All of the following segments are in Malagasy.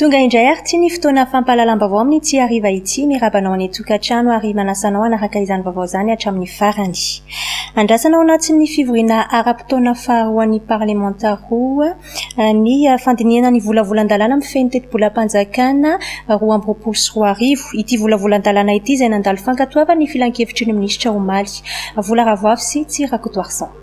Tonga indray ary ity ny fotoana fampahalalam-baovao amin'ny Tia Hariva ity. Miraba anao any an-tokantrano ary manasa anao hanaraka izany vaovao izany hatramin'ny farany. Andrasana ao anatin'ny fivoriana ara-potoana faharoan'ny parlemanta roa ny fandinihana ny volavolan-dalàna mifehy ny tetibolam-panjakana roa amby roapolo sy roa arivo. Ity volavolan-dalàna ity izay nandalo fankatoavana ny filankevitry ny minisitra omaly. Vola Ravoafy sy Tsihy Rakotoarison.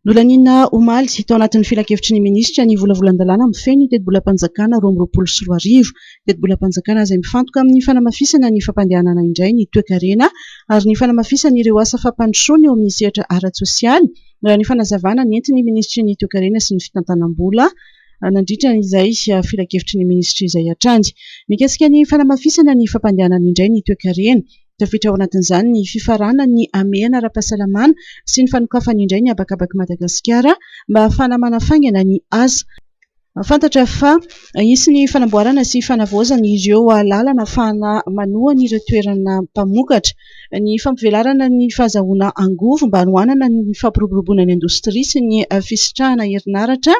Nolaniana omaly, tao anatin'ny filankevitry ny minisitra, ny volavolan-dalàna mifehy ny tetibolam-panjakana roa amby roapolo sy roa arivo. Tetibolam-panjakana izay mifantoka amin'ny fanamafisana ny fampandehanana indray ny toekarena ary ny fanamafisana ireo asa fampandrosoana eo amin'ny sehatra ara-tsosialy, raha ny fanazavana nentin'ny minisitry ny Toekarena sy ny fitantanam-bola nandritra izay filankevitry ny minisitra izay hatrany. Mikasika ny fanamafisana ny fampandehanana indray ny toekarena, Tafiditra ao anatin'izany ny fifaranan'ny hamehana ara-pahasalamana sy ny fanokafany indray ny habakabak'i Madagasikara mba hahafahana manafaingana ny asa. Fantatra fa hisy ny fanamboarana sy fanavaozana ireo lalana hahafahana manohana ireo toerana mpamokatra. Ny fampivelarana ny fahazahoana angovo mba hanohanana ny fampiroboroboana ny indostria sy ny fisitrahana herinaratra.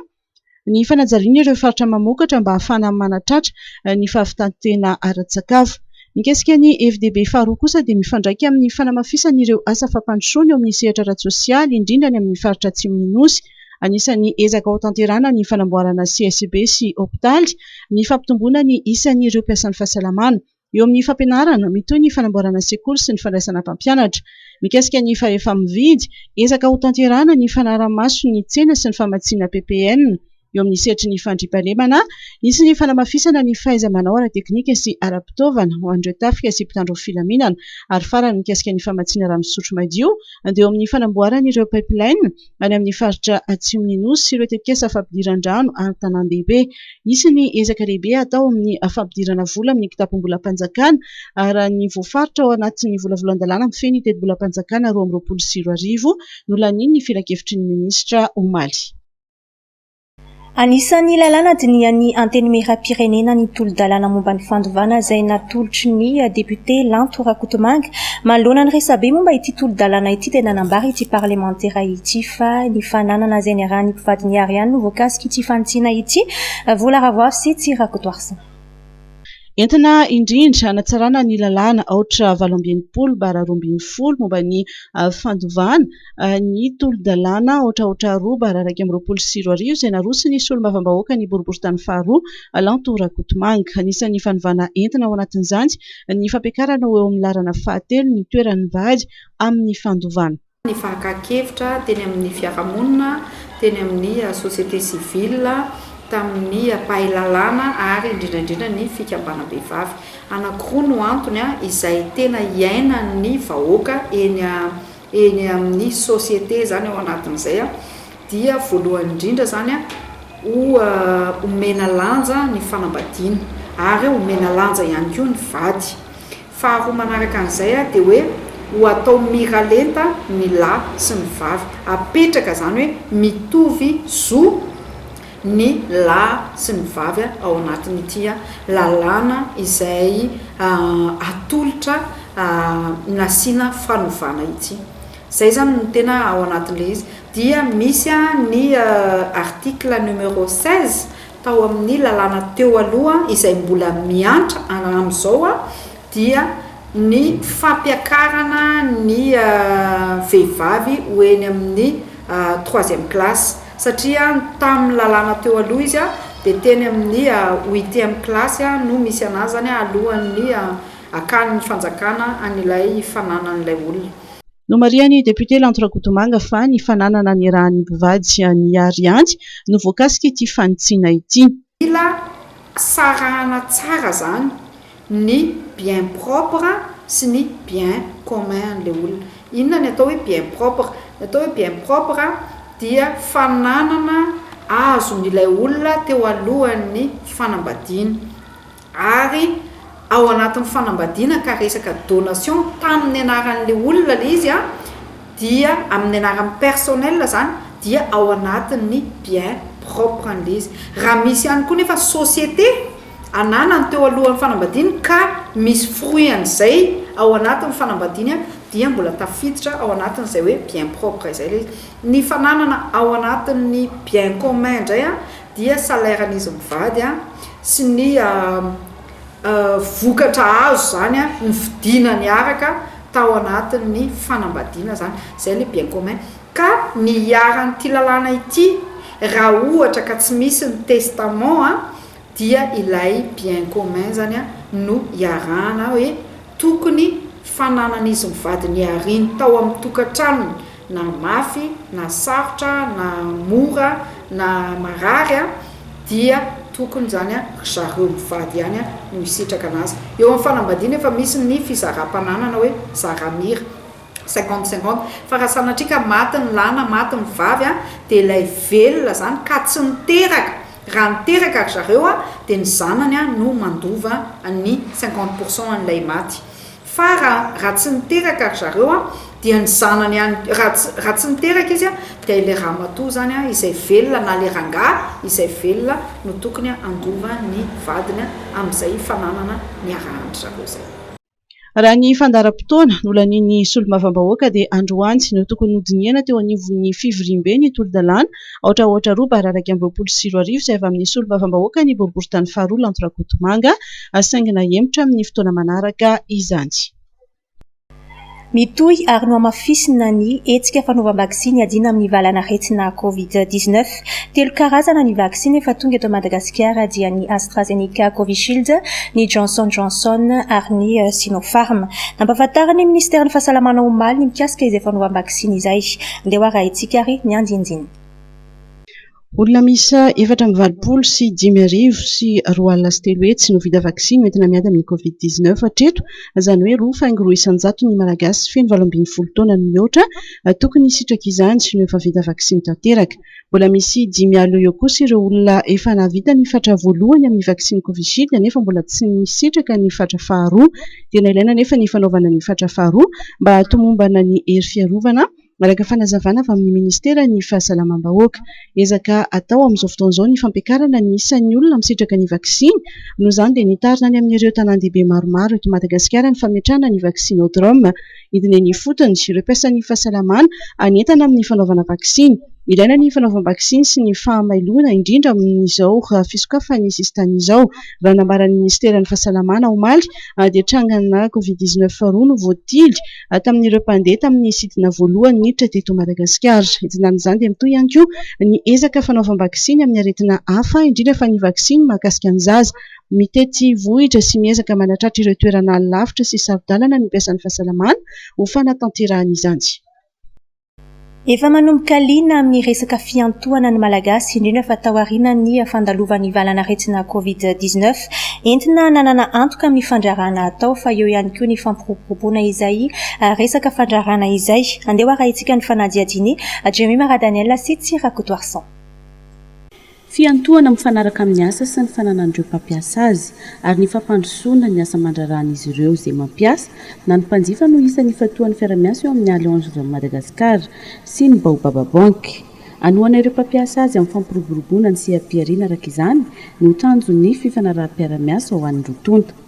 Ny fanajariana ireo faritra mamokatra mba hahafahana manatratra ny fahavitan-tena ara-tsakafo. Mikasika ny FDB faharoa kosa dia mifandraika amin'ny fanamafisana ireo asa fampandrosoana eo amin'ny sehatra ara-tsosialy, indrindra any amin'ny faritra atsimon'ny Nosy. Anisan'ny ezaka hotanterahana ny fanamboarana CSB sy hopitaly, ny fampitomboana ny isan'ireo mpiasan'ny fahasalamana. Eo amin'ny fampianarana, mitohy ny fanamboarana sekoly sy ny fandraisana mpampianatra. Mikasika ny fahefa-mividy, ezaka hotanterahana ny fanarahamaso ny tsena sy ny famatsiana ppn eo amin'ny sehatry ny fandriampahalemana. Hisy ny fanamafisana ny fahaiza-manao ara-teknika sy ara-pitaovana ho an'ireo tafika sy mpitandro ny filaminana. Ary farany, mikasika ny famatsiana rano fisotro madio, dia eo amin'ny fanamboarana ireo pipeline, any amin'ny faritra atsimon'ny Nosy sy ireo tetikasa fampidiran-drano ary tanàn-dehibe. Hisy ny ezaka lehibe hatao amin'ny fampidirana vola amin'ny kitapom-bolam-panjakana ary raha ny voafaritra ao anatin'ny volavolan-dalàna mifehy ny tetibolam-panjakana roa amby roapolo sy roa arivo, nolanian'ny filankevitry ny minisitra omaly. Anisan'ny lalàna dinihan'ny Antenimierampirenena ny tolo-dalàna momba ny fandovana izay natolotry ny depiote Lanto Rakotomanga. Manoloana ny resabe momba ity tolo-dalàna ity dia nanambara ity parlemantera ity fa ny fananana izay niarahan'ny mpivady nihary ihany no voakasik'ity fanitsiana ity, Vola Ravoafy sy Tsy Rakotoarison. Entina indrindra hanatsarana ny lalàna aotra valo amby enimpolo bara roa ambin'ny folo momba ny fandovana ny tolo-dalàna aotra aotra roa bara iraika amby roapolo sy roa arivo izay naroson'ny solombavambahoaka ny boriborintany faharoa Lanto Rakotomanga. Anisan'ny fanovana entina ao anatin'izany ny fampiakarana ho eo amin'ny laharana fahatelo ny toeran'ny vary amin'ny fandovana ny fakan-kevitra teny amin'ny fiarahamonina, teny amin'ny société civile, tamin'ny mpahay lalàna ary indrindra indrindra ny fikambanam-behivavy. Anankiroa no antony izay tena iainan'ny vahoaka eny eny amin'ny société izany ao anatin'izay dia voalohany indrindra izany omena lanja ny fanambadiana ary omena lanja ihany koa ny vady. Faharoa manaraka an'izay dia hoe ho atao miralenta ny lahy sy ny vavy, apetraka izany hoe mitovy zo ny lahy sy ny vavy ao anatin'ity lalàna izay atolotra nasiana fanovana ity. Izay izany no tena ao anatin'ilay izy. Dia misy ny article numéro seize tao amin'ny lalàna teo aloha izay mbola miantra amin'izao dia ny fampiakarana ny vehivavy ho eny amin'ny troisième classe satria tamin'ny lalàna teo aloha izy dia teny amin'ny huitième classe no misy an'azany alohan'ny hakan'ny fanjakana an'ilay fananan'ilay olona. Nomarihan'ny depiote Lanto Rakotomanga fa ny fananana ny ràn'ny mpivady an'i Arianty no voakasik'ity fanitsiana ity. Mila sarahana tsara zany ny bien propre sy ny bien commun le olona. Inona ny atao hoe bien propre? Ny atao hoe bien propre dia fananana azon'ilay olona teo alohan'ny fanambadiana. ary ao anatin'ny fanambadiana ka resaka donation tamin'ny anaran'ilay olona ilay izy an, dia amin'ny anarany personnel izany dia ao anatin'ny bien propre an'ilay izy. Raha misy ihany koa nefa société ananany teo alohan'ny fanambadiany ka misy fruit an'izay ao anatin'ny fanambadiany an, dia mbola tafiditra ao anatin'izay hoe bien propre izay ilay izy. Ny fananana ao anatin'ny bien commun indray an, dia salairan'izy mivady an, sy ny vokatra azo izany an, ny vidiana niaraka tao anatin'ny fanambadiana izany, izay ilay bien commun, ka ny iharan'ity lalàna ity raha ohatra ka tsy misy ny testament an, dia ilay bien commun izany an no iarahana hoe, tokony fananan'izy mivady nihariny tao amin'ny tokantranony na mafy na sarotra na mora na marary dia tokony izany ry zareo mivady ihany no hisitraka anazy. Eo amin'ny fanambadiana efa misy ny fizaram-pananana hoe zara-mira. Cinquante cinquante fa raha sanatria ka maty ny lahy na maty ny vavy an dia ilay velona izany ka tsy niteraka raha niteraka ry zareo an dia ny zanany an no mandova ny cinquante pour cent an'ilay maty fa raha raha tsy niteraka ry zareo an dia ny zanany ihany raha tsy raha tsy niteraka izy an dia ilay ramatoa izany an izay velona na ilay rangahy izay velona no tokony handova ny vadiny an amin'izay fananana niarahan-dry zareo izay. Raha ny fandaharam-potoana nolanian'ny solombavambahoaka dia androany no tokony hodinihana teo anivon'ny fivoriambe ny tolodalàna aotra aotra roa bara iraika amby roapolo sy roa arivo izay avy amin'ny solombavambahoaka ny boriboritany faharoa Lanto Rakotomanga saingy nahemotra amin'ny fotoana manaraka izany. Mitohy ary nohamafisina ny hetsika fanaovam-baksiny hiadiana amin'ny valanaretina Covid dix neuf. Telo karazana ny vaksiny efa tonga eto Madagasikara dia ny AstraZeneca Covishield, ny Johnson Johnson ary ny Sinopharm. Nampahafantarin'ny minisiteran'ny Fahasalamana omaly ny mikasika izay fanaovam-baksiny izay. Andeha ho arahintsika ary ny andinindininy. Olona miisa efatra amby valopolo sy dimy arivo sy roa alina sy telo hetsy no vita vaksiny ho entina miady amin'ny Covid dix neuf hatreto, izany hoe roa faingo roa isan-jato ny Malagasy feno valo ambin'ny folo taona no mihoatra tokony hisitraka izany sy no efa vita vaksiny tanteraka. Mbola misy dimy alina eo kosa ireo olona efa nahavita ny fatra voalohany amin'ny vaksiny Covishield nefa mbola tsy nisitraka ny fatra faharoa. Tena ilaina anefa ny fanaovana ny fatra faharoa mba hahatomombana ny hery fiarovana. Manaraka fanazavana avy amin'ny ministeran'ny Fahasalamam-bahoaka. Ezaka atao amin'izao fotoana izao ny fampiakarana ny isan'ny olona misitraka ny vaksiny. Noho izany dia nitarina any amin'ireo tanàn-dehibe maromaro eto Madagasikara ny fametrahana ny Vaccinodrome. Hidina eny ifotony ireo mpiasan'ny fahasalamana hanentana amin'ny fanaovana vaksiny. Ilaina ny fanaovam-baksiny sy ny fahamailoana indrindra amin'izao fisokafan'ny sisintany izao. Raha nambaran'ny ministeran'ny Fahasalamana omaly dia trangana covid dix-neuf roa no voatily. ary tamin'ireo mpandeha tamin'ny sidina voalohany niditra teto Madagasikara. Entin'izany izany dia mitohy ihany koa ny ezaka fanaovam-baksiny amin'ny aretina hafa, indrindra fa ny vaksiny mahakasika ny zaza. Mitety vohitra sy miezaka manatratra ireo toerana lavitra sy saro-dalana ny mpiasan'ny fahasalamana ho fanatanterahana izany. Efa manomboka liana amin'ny resaka fiantohana ny Malagasy, indrindra fa taorian'ny fandalovan'ny valan'aretina Covid dix neuf. Entina nanana antoka amin'ny fandraharahana hatao fa eo ihany koa ny fampiroboroboana izay resaka fandraharahana izay. Andeha ho arahintsika ny fanadihadian'i Jemima Radaniel sy Tsy Rakotoarison. Fiantohana mifanaraka amin'ny asa sy ny fananan'ireo mpampiasa azy, ary ny fampandrosoana ny asa aman-draharahan'izy ireo izay mampiasa, na ny mpanjifa no isan'ny ifantohan'ny fiara-miasa eo amin'ny Allianz Madagascar sy ny Baobab Bank. Hanohana ireo mpampiasa azy amin'ny fampiroboroboana ny seha-pihariana araka izany no tanjon'ny fifanaraham-piara-miasa ho an'ny roa tonta.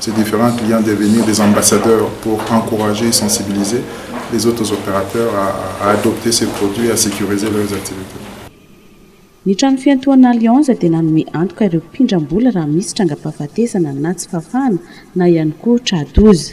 C'est different client devenir des ambassadeurs pour encourager et sensibiliser les autres opérateurs à adopter ces produits et à sécuriser leurs activités. Ny trano fiantohana Allianz dia nanome antoka ireo mpindram-bola raha misy trangam-pahafatesana na tsy fahafahana na ihany koa tra-doza.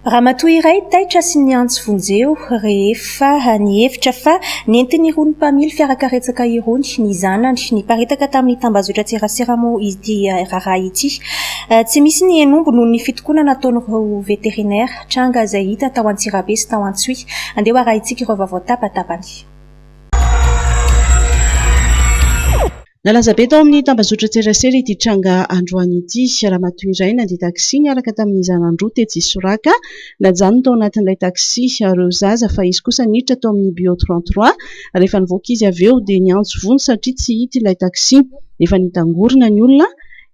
Ramatoa iray taitra sy niantso vonjeo rehefa nihevitra fa nentin'irony mpamily fiarakaretsaka irony ny zanany. Niparitaka tamin'ny tambazotran-tserasera moa ity raharaha ity. Tsy misy ny henombo noho ny fitokonana ataon'ireo veterinera. Tranga izay hita tao Antsirabe sy tao Antsohihy. Andeha ho arahintsika ireo vaovao an-tapatapany. Nalaza be tao amin'ny tambazotran-tserasera ity tranga androany ity. Ramatoa iray nandia taxi niaraka tamin'ny zanany roa tetsy Isoraka. Najanony tao anatin'ilay taxi ireo zaza fa izy kosa niditra tao amin'ny Bio trente trois. Rehefa nivoaka izy avy eo dia niantso vonjy satria tsy hita ilay taxi. Efa nitangorona ny olona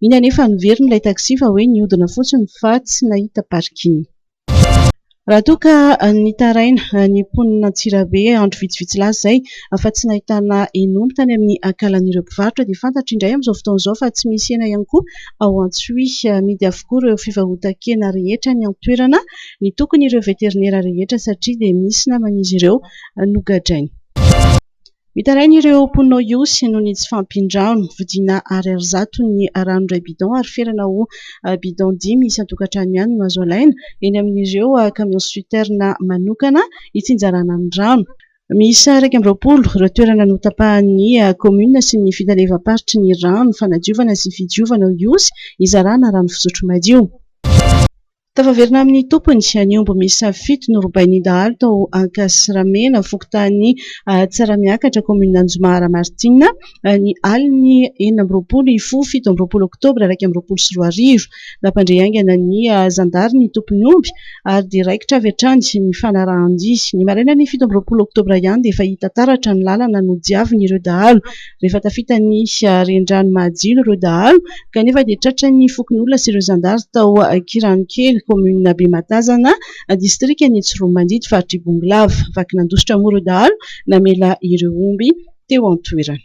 iny anefa niverina ilay taxi fa hoe nihodina fotsiny fa tsy nahita parking. Raha toa ka nitaraina ny mponin' Antsirabe andro vitsivitsy lasa izay fa tsy nahitana hen'omby tany amin'ny ankalan'ireo mpivarotra dia fantatra indray amin'izao fotoana izao fa tsy misy hena ihany koa ao Antsohihy. Amidy avokoa ireo fivarotan-kena rehetra any an-toerana ny tokon'ireo veterinera rehetra satria dia misy naman'izy ireo nogadraina. Mitaraina ireo mponina ao Ihosy noho ny tsy fahampian-drano. Vidiana ariary zato ny rano iray bidon ary ferana ho bidon dimy isan-tokantrano ihany no azo alaina eny amin'ireo camions citernes manokana itsinjarana ny rano. Miisa iraika amby roapolo ireo toerana notapahan'ny kaominina sy ny fitalevam-paritry ny rano fanadiovana sy fidiovana ao Ihosy hizarana rano fisotro madio. Tafaverina amin'ny tompony, ny omby miisa fito norobain'ny dahalo tao Ankasiramena, fokontany Tsaramiakatra, kaominina Anjomara Martina, ny alin'ny enina amby roapolo hifo fito amby roapolo oktobra iraika amby roapolo sy roa arivo. Nampandre haingana ny zandary ny tompon'ny omby ary dia raikitra avy hatrany ny fanarahan-dia. Ny marainan'ny fito amby roapolo oktobra ihany dia efa hita taratra ny lalana nodiavin'ireo dahalo. rehefa tafita ny renirano Mahajino ireo dahalo kanefa dia tratran'ny fokonolona sy ireo zandary tao Ankiranokely, kaominina Bematazana, distrikan'i Tsiroanomandidy, faritr'i Bongolava. Vaky nandositra moa ireo dahalo namela ireo omby teo an-toerana.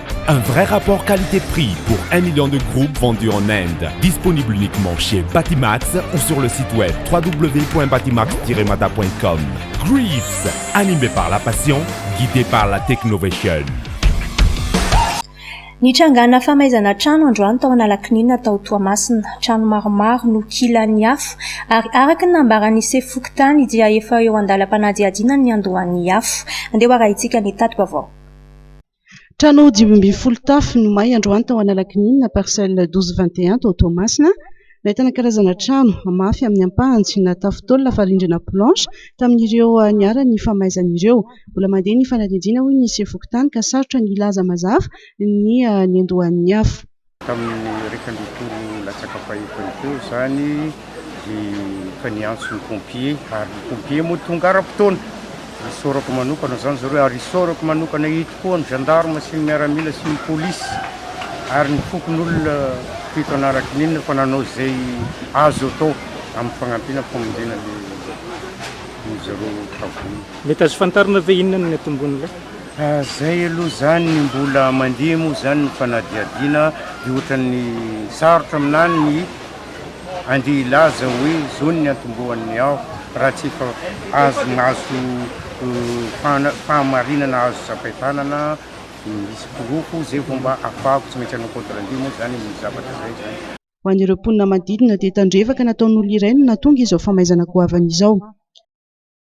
Un vrai rapport qualité prix pour un million de groupes vendus en Inde. Disponible uniquement chez Batimax ou sur le site web www.batimax-mada.com. Greets, animé par la passion, guidé par la technovation. Nitrangana famaizana trano androany tao Analakininina tao Toamasina. Trano maromaro no kilan'ny afo ary araka ny nambaran'ny sefo fokontany dia efa eo an-dalam-panadihadiana ny niandohan'ny afo. Andeha ho arahintsika ny tati-baovao. Trano dimy ambin'ny folo tafo no may androany tao Analakely, parcelle 12 21, tao Toamasina. Nahitana karazana trano mafy amin'ny ampahany tsy natafo taolana fa rindrina planche tamin'ireo niharan'ny famaizana ireo. Mbola mandeha ny fanadihadiana hoy ny sefo fokontany ka sarotra ny hilaza mazava ny niandohan'ny afo. Tamin'ny iraika ambin'ny folo latsaka fahefany teo izany dia efa niantso ny pompiers ary ny pompiers moa tonga ara-potoana. Isaorako manokana izany zareo ary isaorako manokana eto koa ny gendarmes sy ny miaramila sy ny polisy ary ny fokonolona teto Anarakininina fa nanao izay azo atao amin'ny fagnampiana famonjena an'izareo tavola. Mety azo fantarina ve inona no niatombohan'ilay? Fa zay aloha zany ny mbola mandeha moa zany ny fanadihadiana de ohatran'ny sarotra aminany ny andeha hilaza hoe zao ny niantombohan'ny aho raha tsy efa azo mahazo fahamarinana azo tsapain-tanana misy porofo zay vao mba afahako tsy maintsy hanao compte rendu moa zany amin'ny zavatra zay zany. Ho an'ireo mponina manodidina dia tandrevaka nataon'olona iray no nahatonga izao famaizana goavana izao.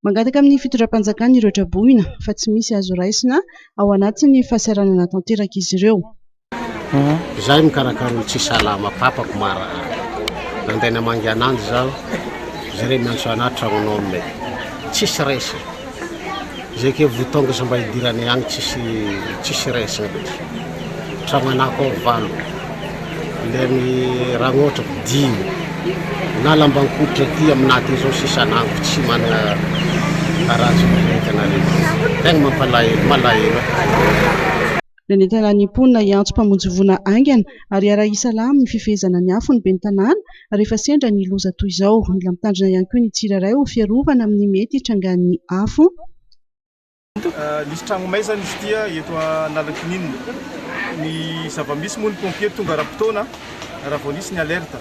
Mangataka amin'ny fitondram-panjakana ireo traboina fa tsy misy azo raisina ao anatin'ny fahasahiranana tanteraka izy ireo. Izaho mikarakara olo tsy salama papako marary nandeha namangy ananjy zaho jereo miantso anah tragnon'homme e tsisy raisina zay ke voa tonga izy mba hidiranay agny tsisy tsisy raisina mihitsy tragno anako ao valo Ilay amin'ny raha ohatra ko dimy na lambankoditra aty amina aty zao sisa nango tsy manana harazo ny entana rehetra tegna mampalahelo malahelo Nanentana ny mponina hiantso mpamonjy voina haingana ary hiara-hi salama ny fifehezana ny afo ny ben'ny tanàna rehefa sendra ny loza toy izao. Mila mitandrina ihany koa ny tsirairay ho fiarovana amin'ny mety hitrangan'ny afo. Nisy tragno may zany izy ity eto Analankininina. Ny zava-misy moa ny pompiers tonga ara-potoana raha vao nisy ny alerte.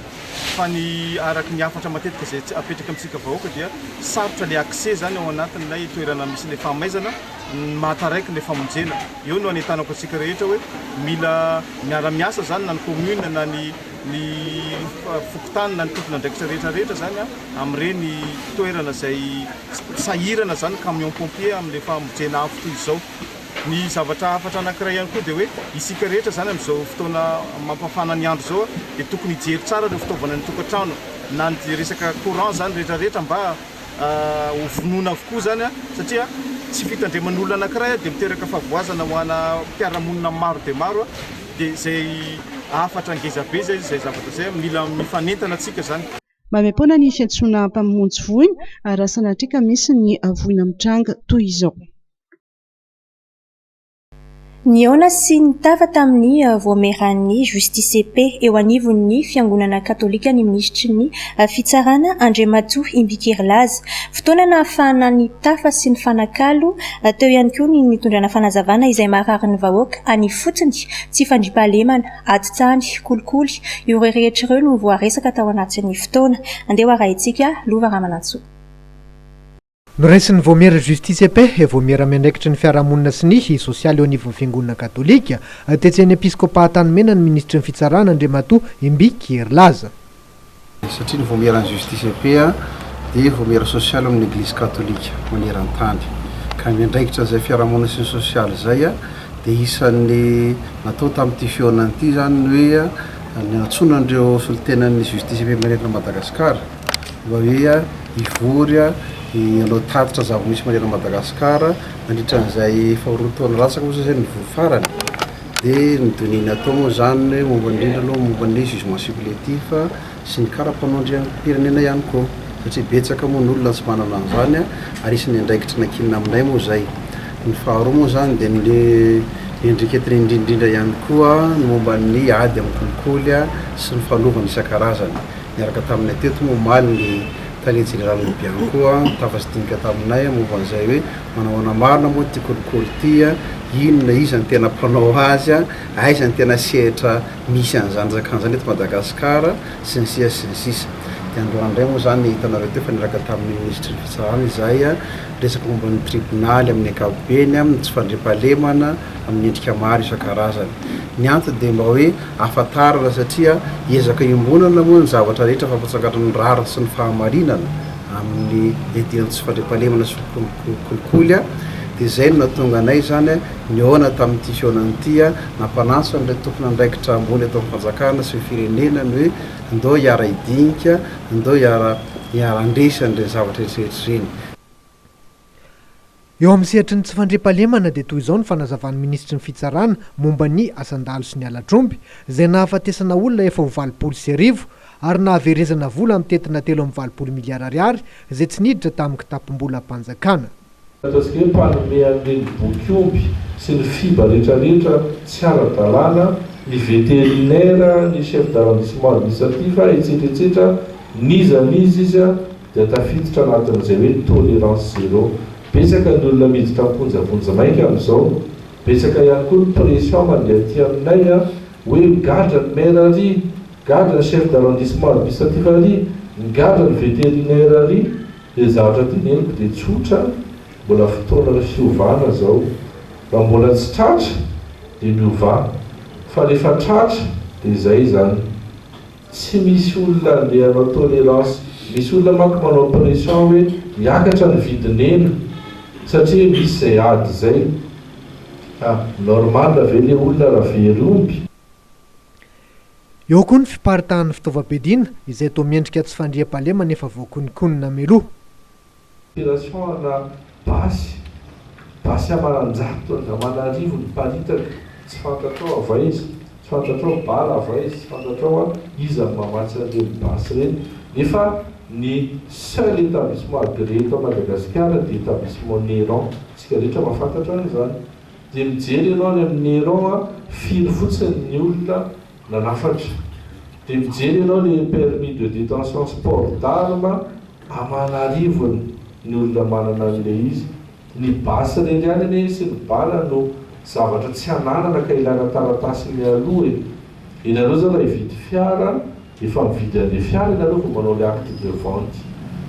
Fa ny araka ny hafatra matetika izay apetraka amintsika vahoaka dia sarotra ilay accès zany ao anatin'ilay toerana misy ilay fahamaizana ny mahataraiky ilay famonjena. Eo no anentanako antsika rehetra hoe mila miara-miasa zany na ny commune na ny ny fokontany na ny tompon'andraikitra rehetra rehetra zany amin'ireny toerana izay sahirana izany camion pompier amin'ilay famojeana afo toy izao. Ny zavatra hafatra anankiray ihany koa dia hoe isika rehetra izany amin'izao fotoana mampafana ny andro izao dia tokony hijery tsara ireo fitaovana any an-tokantrano na ny resaka courant izany rehetra rehetra mba ho vonoina avokoa izany satria tsy fitandreman'olona anankiray dia miteraka fahavoazana ho ana mpiara-monina maro dia maro dia izay hafatra ngeza be izay zavatra izay mila mifanentana antsika izany. Maimaim-poana ny fiantsoana mpamonjy voina ary raha sanatria ka misy ny voina mitranga toy izao. Nihaona sy nitafa tamin'ny Vaomieran'ny Justice Paix eo anivon'ny Fiangonana Katolika ny Minisitry ny Fitsarana, Andriamatoa Imbikirilaza. Fotoana nahafahana nitafa sy nifanakalo teo ihany koa ny nitondrana fanazavana izay maharary ny vahoaka any ifotony tsy fandriampahalemana. Adin-tany, kolikoly, ireo rehetra ireo no voaresaka tao anatin'ny fotoana. Andeha ho arahintsika, Lova Ramanantsoa. Noraisin'ny Vaomiera Justice et Paix, Vaomiera miandraikitry ny fiarahamonina sy ny sosialy eo anivon'ny Fiangonana katolika, tetsy amin'ny Episkôpà Antanimena ny Minisitry ny Fitsarana Andriamatoa Imbiky Herilaza. satria ny vaomieran'ny Justice et Paix dia vaomiera sosialy ao amin'ny Eglizy Katolika maneran-tany, ka ny andraikitra izay fiarahamonina sy ny sosialy izay dia isan'ny natao tamin'ity fihaonana ity izany ny hoe ny hantsoina an'ireo solontenan'ny Justice et Paix manerana an'i Madagasikara mba hoe hivory hanao tatitra zava-misy manerana an'i Madagasikara nandritra an'izay efa roa taona latsaka moa izay izay no nivory farany. Dia ny données-ny atao moa izany hoe momba indrindra aloha momba ny jugement supplétif sy ny kara-panao andriampirenena ihany koa. Satria betsaka moa ny olona tsy manana an'izany ary isan'ny andraikitry ny ankinina aminay moa izay. Ny faharoa moa izany dia ny endriketiny indrindrindra ihany koa ny momba ny ady amin'ny kolikoly sy ny fanovana isan-karazany. Niaraka taminay teto moa omaly ny tale jeneralin'ny Bianco, tafatsy dinika taminay momba an'izay hoe Manahoana marina moa ity kolikoly ity a? Inona, iza no tena mpanao azy a? Aiza no tena sehatra misy an'izany zakana izany eto Madagasikara? sy ny sisa sy ny sisa. Dia androany indray moa izany hitanareo teo fa niaraka tamin'ny minisitry ny fitsarana izahay a, resaka momba ny tribonaly amin'ny ankapobeny, amin'ny tsy fandriampahalemana amin'ny endrika maro isan-karazany. Ny antony dia mba hoe ahafantarana satria ezaka iombonana moa ny zavatra rehetra fa ampahatsangantran'ny rariny sy ny fahamarinana. amin'ny ety an tsy fandriampahalemana sy kolikoly dia izay no nahatonga anay izany nihaona tamin'ity fihaonana ity nampanantso an'ireo tompon'andraikitra ambony eto amin'ny fanjakana sy ny firenena ny hoe ndao hiara hidinika ndao hiara hiara handresy an'ireny zavatra rehetra ireny Eo amin'ny sehatry ny tsy fandriampahalemana dia toy izao ny fanazavan'ny minisitry ny Fitsarana momba ny asan-dahalo sy ny halatr'omby izay nahafatesana olona efa ho valopolo sy arivo ary nahaverezana vola mitentina telo amby valopolo miliara ariary izay tsy niditra tamin'ny kitapom-bolam-panjakana. Ataontsika hoe mpanome an'ireny boky-omby sy ny fiba rehetra rehetra tsy ara-dalàna, ny vétérinaire, ny chef d'arrondissement administratif, etsetra etsetra, n'iza n'iza izy. dia tafiditra anatin'izay hoe tolérance zéro. Betsaka ny olona miditra am-ponja vonjimaika amin'izao. Betsaka ihany koa ny pression mandeha aty aminay hoe migadra ny maire ary, gadra ny chef d'arrondissement administratif ary, migadra ny vétérinaire ary. Dia ny zavatra tiany henoko dia tsotra, mbola fotoanan'ny fiovana izao. Raha mbola tsy tratra dia miovà, fa rehefa tratra dia izay izany. Tsy misy olona andeha hanao tolerance. Misy olona manko manao pression hoe miakatra ny vidin'hena satria misy izay ady izay. Ka normal ve le olona raha very omby? Eo koa ny fiparitahan'ny fitaovam-piadiana izay toa miendrika tsy fandriampahalemana efa voakononkonona mialoha. Opération ana basy, basy amaranjato andramanarivo niparitaka, tsy fantatrao avy aiza, tsy fantatrao bar avy aiza, tsy fantatrao hoa iza no mamatsy an'ireny basy ireny, nefa ny seul établissement agréé eto Madagasikara dia établissement Néron, isika rehetra mahafantatra an'izany, dia mijery ianao any amin'ny Néron a, firy fotsiny ny olona nanafatra, dia mijery ianao ilay permis de détention sport d'armes Aman'arivony ny olona manana an'ilay izy, ny basy irery ihany anie sy ny bala no zavatra tsy ananana ka ilaina taratasy mialoha e! Ianareo zany raha hividy fiara efa mividy an'le fiara ianareo vao manao le acte de vente,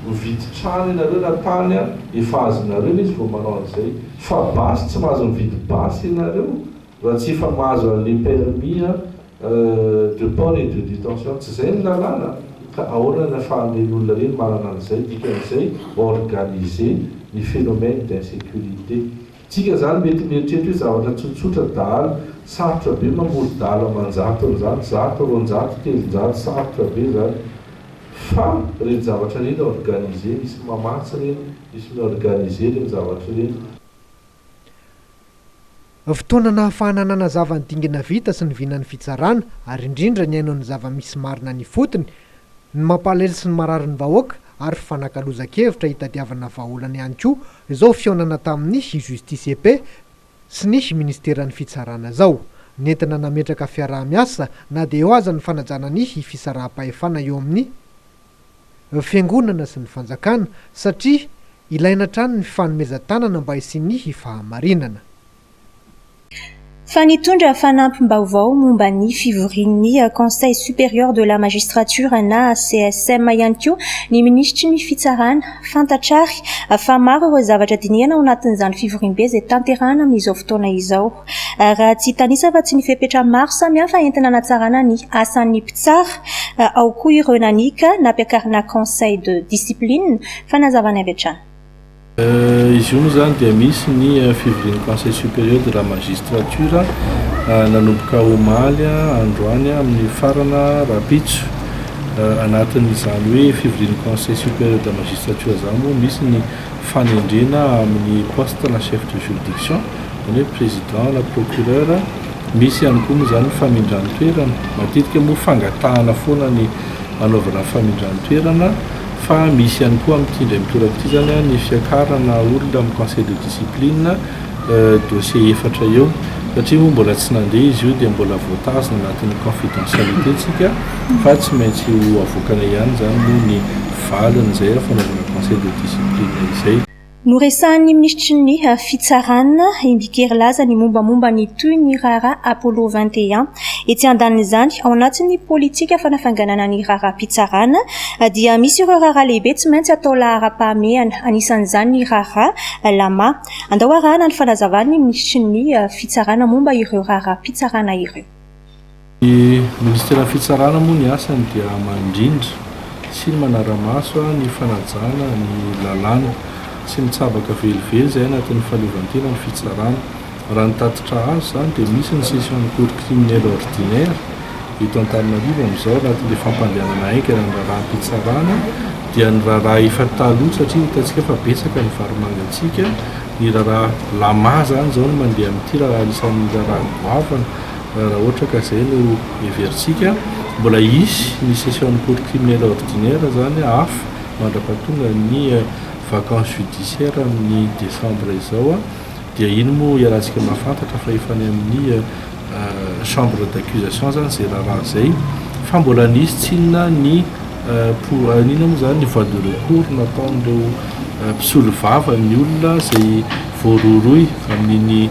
mividy trano ianareo na tany efa azonareo izy vao manao an'izay fa basy tsy mahazo mividy basy ianareo Raha tsy efa mahazo anle permis de port et de detention tsy zay ny lalàna ka ahoana ny afahan'ireny olona ireny manana an'izay, dikan'izay organiser ny phénomène d'insécurité. Tsika zany mety mieritreritra hoe zavatra tsotsotra dahalo, sarotra be mamory dahalo aman-jatony zany, zato, roanjato, telonjato, sarotra be zany fa reny zavatra reny organiser, misy mamatsy reny, misy mi-organiser reny zavatra reny. Fotoana nahafahana nanazava ny dingana vita sy ny vinan'ny fitsarana ary indrindra nihaino ny zava-misy marina any ifotony, ny mampalahelo sy ny mararin'ny vahoaka ary fifanakalozan-kevitra hitadiavana vahaolana ihany koa izao fihaonana tamin'ny Justice et Paix sy ny Ministeran'ny Fitsarana izao, nentina nametraka fiaraha-miasa na dia eo aza ny fanajana ny fisaraham-pahefana eo amin'ny. Fiangonana sy ny fanjakana satria ilaina hatrany ny fanomezan-tanana mba hisian'ny fahamarinana. Fa nitondra fanampim-baovao momba ny fivorian'ny Conseil Supérieur de la Magistrature na CSM ihany koa ny minisitry ny Fitsarana. Fantatra àry fa maro ireo zavatra dinihana ao anatin'izany fivoriambe izay tanterahana amin'izao fotoana izao. Raha tsy hitanisa afa-tsy ny fepetra maro samihafa entina hanatsarana ny asan'ny mpitsara, ao koa ireo nanika nampiakarina conseil de discipline, fanazavana avy hatrany. Izy io moa izany dia misy ny fivorian'ny conseil supérieur de la magistrature nanomboka omaly androany amin'ny mifarana rahampitso. Anatin'izany hoe fivorian'ny conseil supérieur de la magistrature izany moa misy ny. fanendrena amin'ny poste na chef de juridiction, izany hoe président na procureur, misy ihany koa moa izany ny famindran-toerana, matetika moa fangatahana foana ny hanaovana ny famindran-toerana fa misy ihany koa amin'ity indray mitoraka ity izany ny fiakarana olona amin'ny conseil de discipline. dossier efatra eo satria moa mbola tsy nandeha izy io dia mbola voatazona anatin'ny confidentialité tsika fa tsy maintsy ho avoakana ihany izany moa ny valin'izay fanaovana conseil de discipline izay. Noresahan'ny minisitry ny Fitsarana i Mbikera Laza ny mombamomba ny toy ny raharaha Apollo vingt et un. Etsy andanin'izany, ao anatin'ny politika fanafainganana ny raharaham-pitsarana dia misy ireo raharaha lehibe tsy maintsy atao laharam-pahamehana, anisan'izany ny raharaha Lama. Andao arahana ny fanazavan'ny Minisitrin'ny Fitsarana momba ireo raharaham-pitsarana ireo. Ny Minisiteran'ny Fitsarana moa ny asany dia mandrindra sy ny manara-maso ny fanajana ny lalàna. Tsy mitsabaka velively izay anatin'ny fahaleovantena ny Fitsarana. Raha ny tatitra azo izany dia misy ny Section de Cour Criminelle Ordinaire, Eto Antananarivo amin'izao, raha ilay fampandehanana haingana ny raharaham-pitsarana dia ny raharaha efa taloha satria hitantsika fa betsaka ny varimangantsika, ny raharaha lama izany izao no mandeha amin'ity raha anisan'ny raharaha goavana raha ohatra ka izay no heverintsika. Mbola hisy ny session-n'ny cour criminelle ordinaire izany hafa mandra-pahatongan'ny vacance judiciaire amin'ny décembre izao. Dia ino moa iarahantsika mahafantatra fa efa any amin'ny chambre d'accusation izany izay raharaha izay fa mbola nisy tsinona ny pour inona moa izany ny voie de recours nataon'ireo mpisolovava ny olona izay voarohirohy amin'iny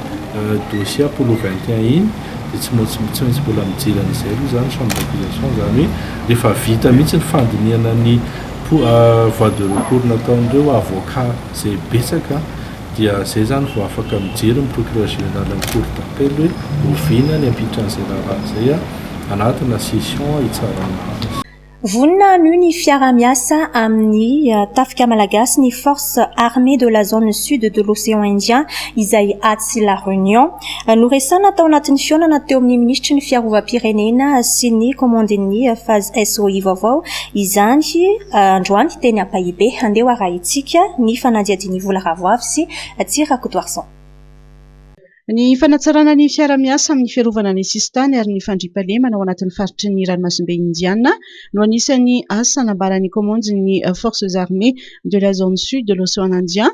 dossier Apollo 21 iny dia tsy maintsy tsy maintsy mbola mijery an'izay aloha izany chambre d'accusation izany hoe rehefa vita mihitsy ny fandinihana ny voie de recours nataon'ireo avocat izay betsaka Dia zay zany vao afaka mijery ny procureur général amin'ny cour d'appel hoe oviana ny ampitran'izay raharaha izay a, anatina session hitsarana azy. Vonona hanio ny fiaraha-miasa amin'ny tafika malagasy ny Force Armée de la Zone Sud de l'Océan Indien izay atsy La Réunion. Noresahana tao anatin'ny fihaonana teo amin'ny minisitry ny Fiarovam-pirenena sy ny kaomandin'ny Faz SOI vaovao izany androany teny Ampahibe. Andeha ho arahintsika ny fanadihadian'i Vola Ravoavy sy Tsy Rakotoarison. Ny fanatsarana ny fiarahamiasa amin'ny fiarovana ny sisintany ary ny fandriampahalemana ao anatin'ny faritry ny ranomasimbe Indiana no anisan'ny asa nambaran'ny kaomandin'ny Forces Armées de la Zone Sud de l'Océan Indien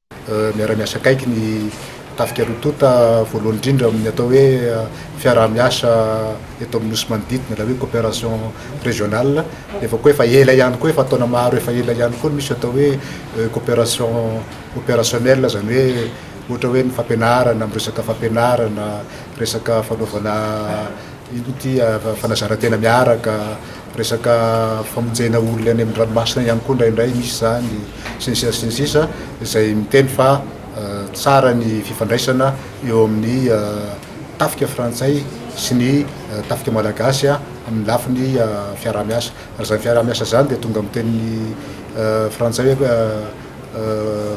Miara-miasa akaiky ny Tafika roa tonta, voalohany indrindra amin'ny atao hoe fiaraha-miasa eto amin'ny Nosy manodidina, ilay hoe coopération régionale, nefa koa efa ela ihany koa, efa taona maro efa ela ihany koa no misy atao hoe coopération opérationnelle, izany hoe ohatra hoe ny fampianarana, amin'ny resaka fampianarana, resaka fanaovana inona ity, fanazaran-tena miaraka, resaka famonjena olona any amin'ny ranomasina ihany koa indraindray misy izany sy ny sisa sy ny sisa izay miteny fa tsara ny fifandraisana eo amin'ny tafika frantsay sy ny tafika malagasy amin'ny lafiny fiaraha-miasa ary izany fiaraha-miasa izany dia tonga amin'ny teny frantsay hoe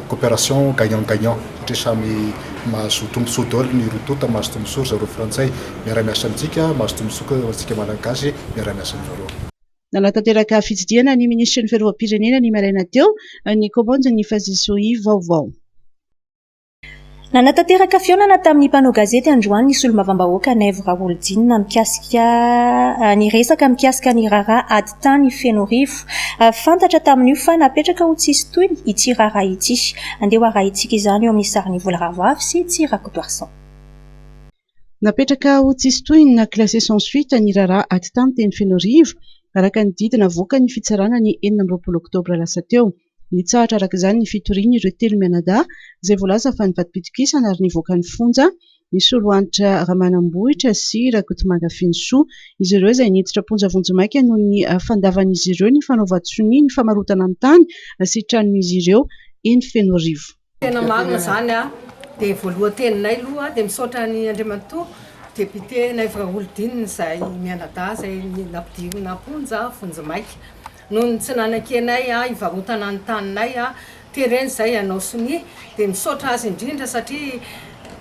coopération gagnant gagnant satria samy mahazo tombotsoa daholo ny roa tonta mahazo tombotsoa ry zareo frantsay miara miasa amintsika mahazo tombotsoa koa antsika malagasy miara miasa amin-dry zareo. Nanatanteraka fitsidihana ny minisitry ny Fiarovam-pirenena ny maraina teo ny kaomandy ny Fazisoi vaovao. Nanatanteraka fihaonana tamin'ny mpanao gazety androany ny solombavambahoaka Naivo Raholdina mikasika ny resaka mikasika ny raharaha ady tany Fenoarivo. Fantatra tamin'io fa napetraka ho tsy hisy tohiny ity raharaha ity. Andeha ho arahintsika izany eo amin'ny sarin'i Vola Ravoavy sy Tsy Rakotoarison. Napetraka ho tsisy tohiny na classé sans suite ny raharaha atitany teny Fenoarivo, araka ny didy navoakan' ny fitsarana ny enina amby roapolo oktobra lasa teo. Nitsahatra araka izany ny fitorian' ireo telo mianadahy izay voalaza fa nivadi-pitokisana ary nivoaka ny fonja, i Solohanitra Ramanambohitra sy Rakotomanga Fenosoa. Izy ireo izay niditra am-ponja vonjimaika noho ny fandavan' izy ireo ny fanaovan-tsonia ny famarotana ny tany sy tranon' izy ireo eny Fenoarivo. Tena marina zany a, de voalohan-teninay loha de misaotra an'i Andriamatoa Député Naivo Raholidinina izay mianadahy izay nampidirina am-ponja vonjimaika noho ny tsy nanakianay hivarotana ny taninay a, tereny izay hanao sonia de misaotra azy indrindra satria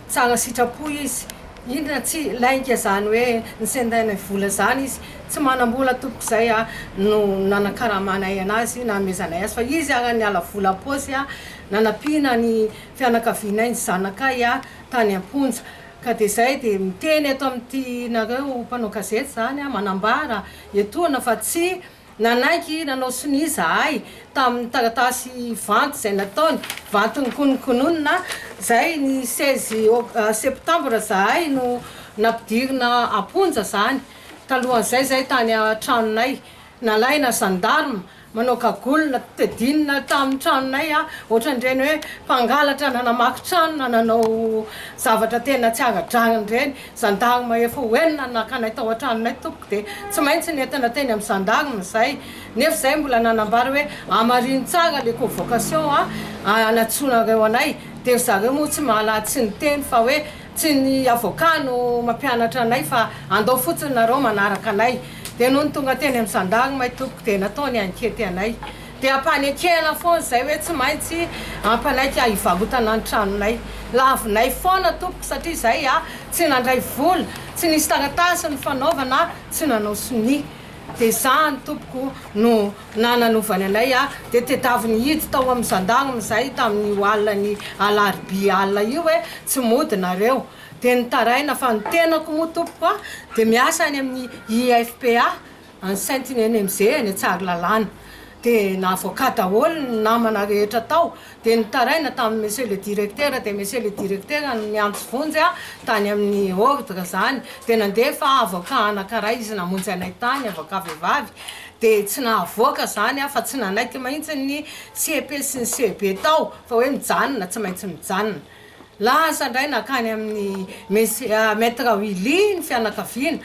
tsara sitrapo izy, indrina tsy lainga izany hoe ny sendainay vola izany izy tsy manam-bola tompoko izay a no nanakaramanay anazy nanomezanay azy fa izy ara niala vola am-paosy a, Nanampiana ny fianakavianay ny zanakay aho tany am-ponja, ka dia izay dia miteny eto amin'ity nareo mpanao gazety izany aho, manambara etoana fa tsy nanaiky nanao sonia izahay tamin'ny taratasy vanty izay nataony, vanty nokonokononina, izay ny seize septambra izahay no nampidirina am-ponja izany, talohan'izay izay tany an-tranonay, nalaina gendarme. Manao gagolina, tedinina tamin'ny tranonay aho, ohatran'ireny hoe mpangalatra nanamaky trano na nanao zavatra tena tsy ara-drariny ireny. Zandary mahefa ho enina no naka anay tao an-tranonay tompoko dia tsy maintsy nentina teny amin'ny zandarme izay. Nefa izahay mbola nanambara hoe hamarino tsara ilay convocation a, hanatsoinareo anay. Dia ry zareo moa tsy mahalala tsy niteny fa hoe. Tsy ny avocat no mampianatra anay fa andao fotsiny nareo manaraka anay. Dia nony tonga teny amin'ny zandary may tompoko dia natao ny ankety anay. Dia ampanekena foana izay hoe tsy maintsy ampanaiky ahy hivarotana ny tranonay. Lavinay foana tompoko satria izay aho tsy nandray vola, tsy nisy taratasy nifanaovana, tsy nanao sonia. Dia izany tompoko no. na nanaovany anay aho dia tedavy nihidy tao amin'ny zandagm izay tamin'io alin'ny alarobia alina io hoe tsy mody nareo dia nitaraina fa ny tenako moa tompoko a dia miasa any amin'ny IFPA any Saint Inenemze any Tsaralalàna dia navoaka daholo ny namana rehetra tao dia nitaraina tamin'ny Monsieur le Directeur, dia Monsieur le Directeur no niantso vonjy ahy tany amin'ny Ordre izany, dia nandefa Avocat anankiray izy namonjy anay tany, Avocat vehivavy, dia tsy nahavoaka izany aho fa tsy nanaiky mihitsy ny CEP sy ny CEB tao fa hoe mijanona, tsy maintsy mijanona. Lasa indray nankany amin'ny Monsieur, Maitre Willy ny fianakaviana,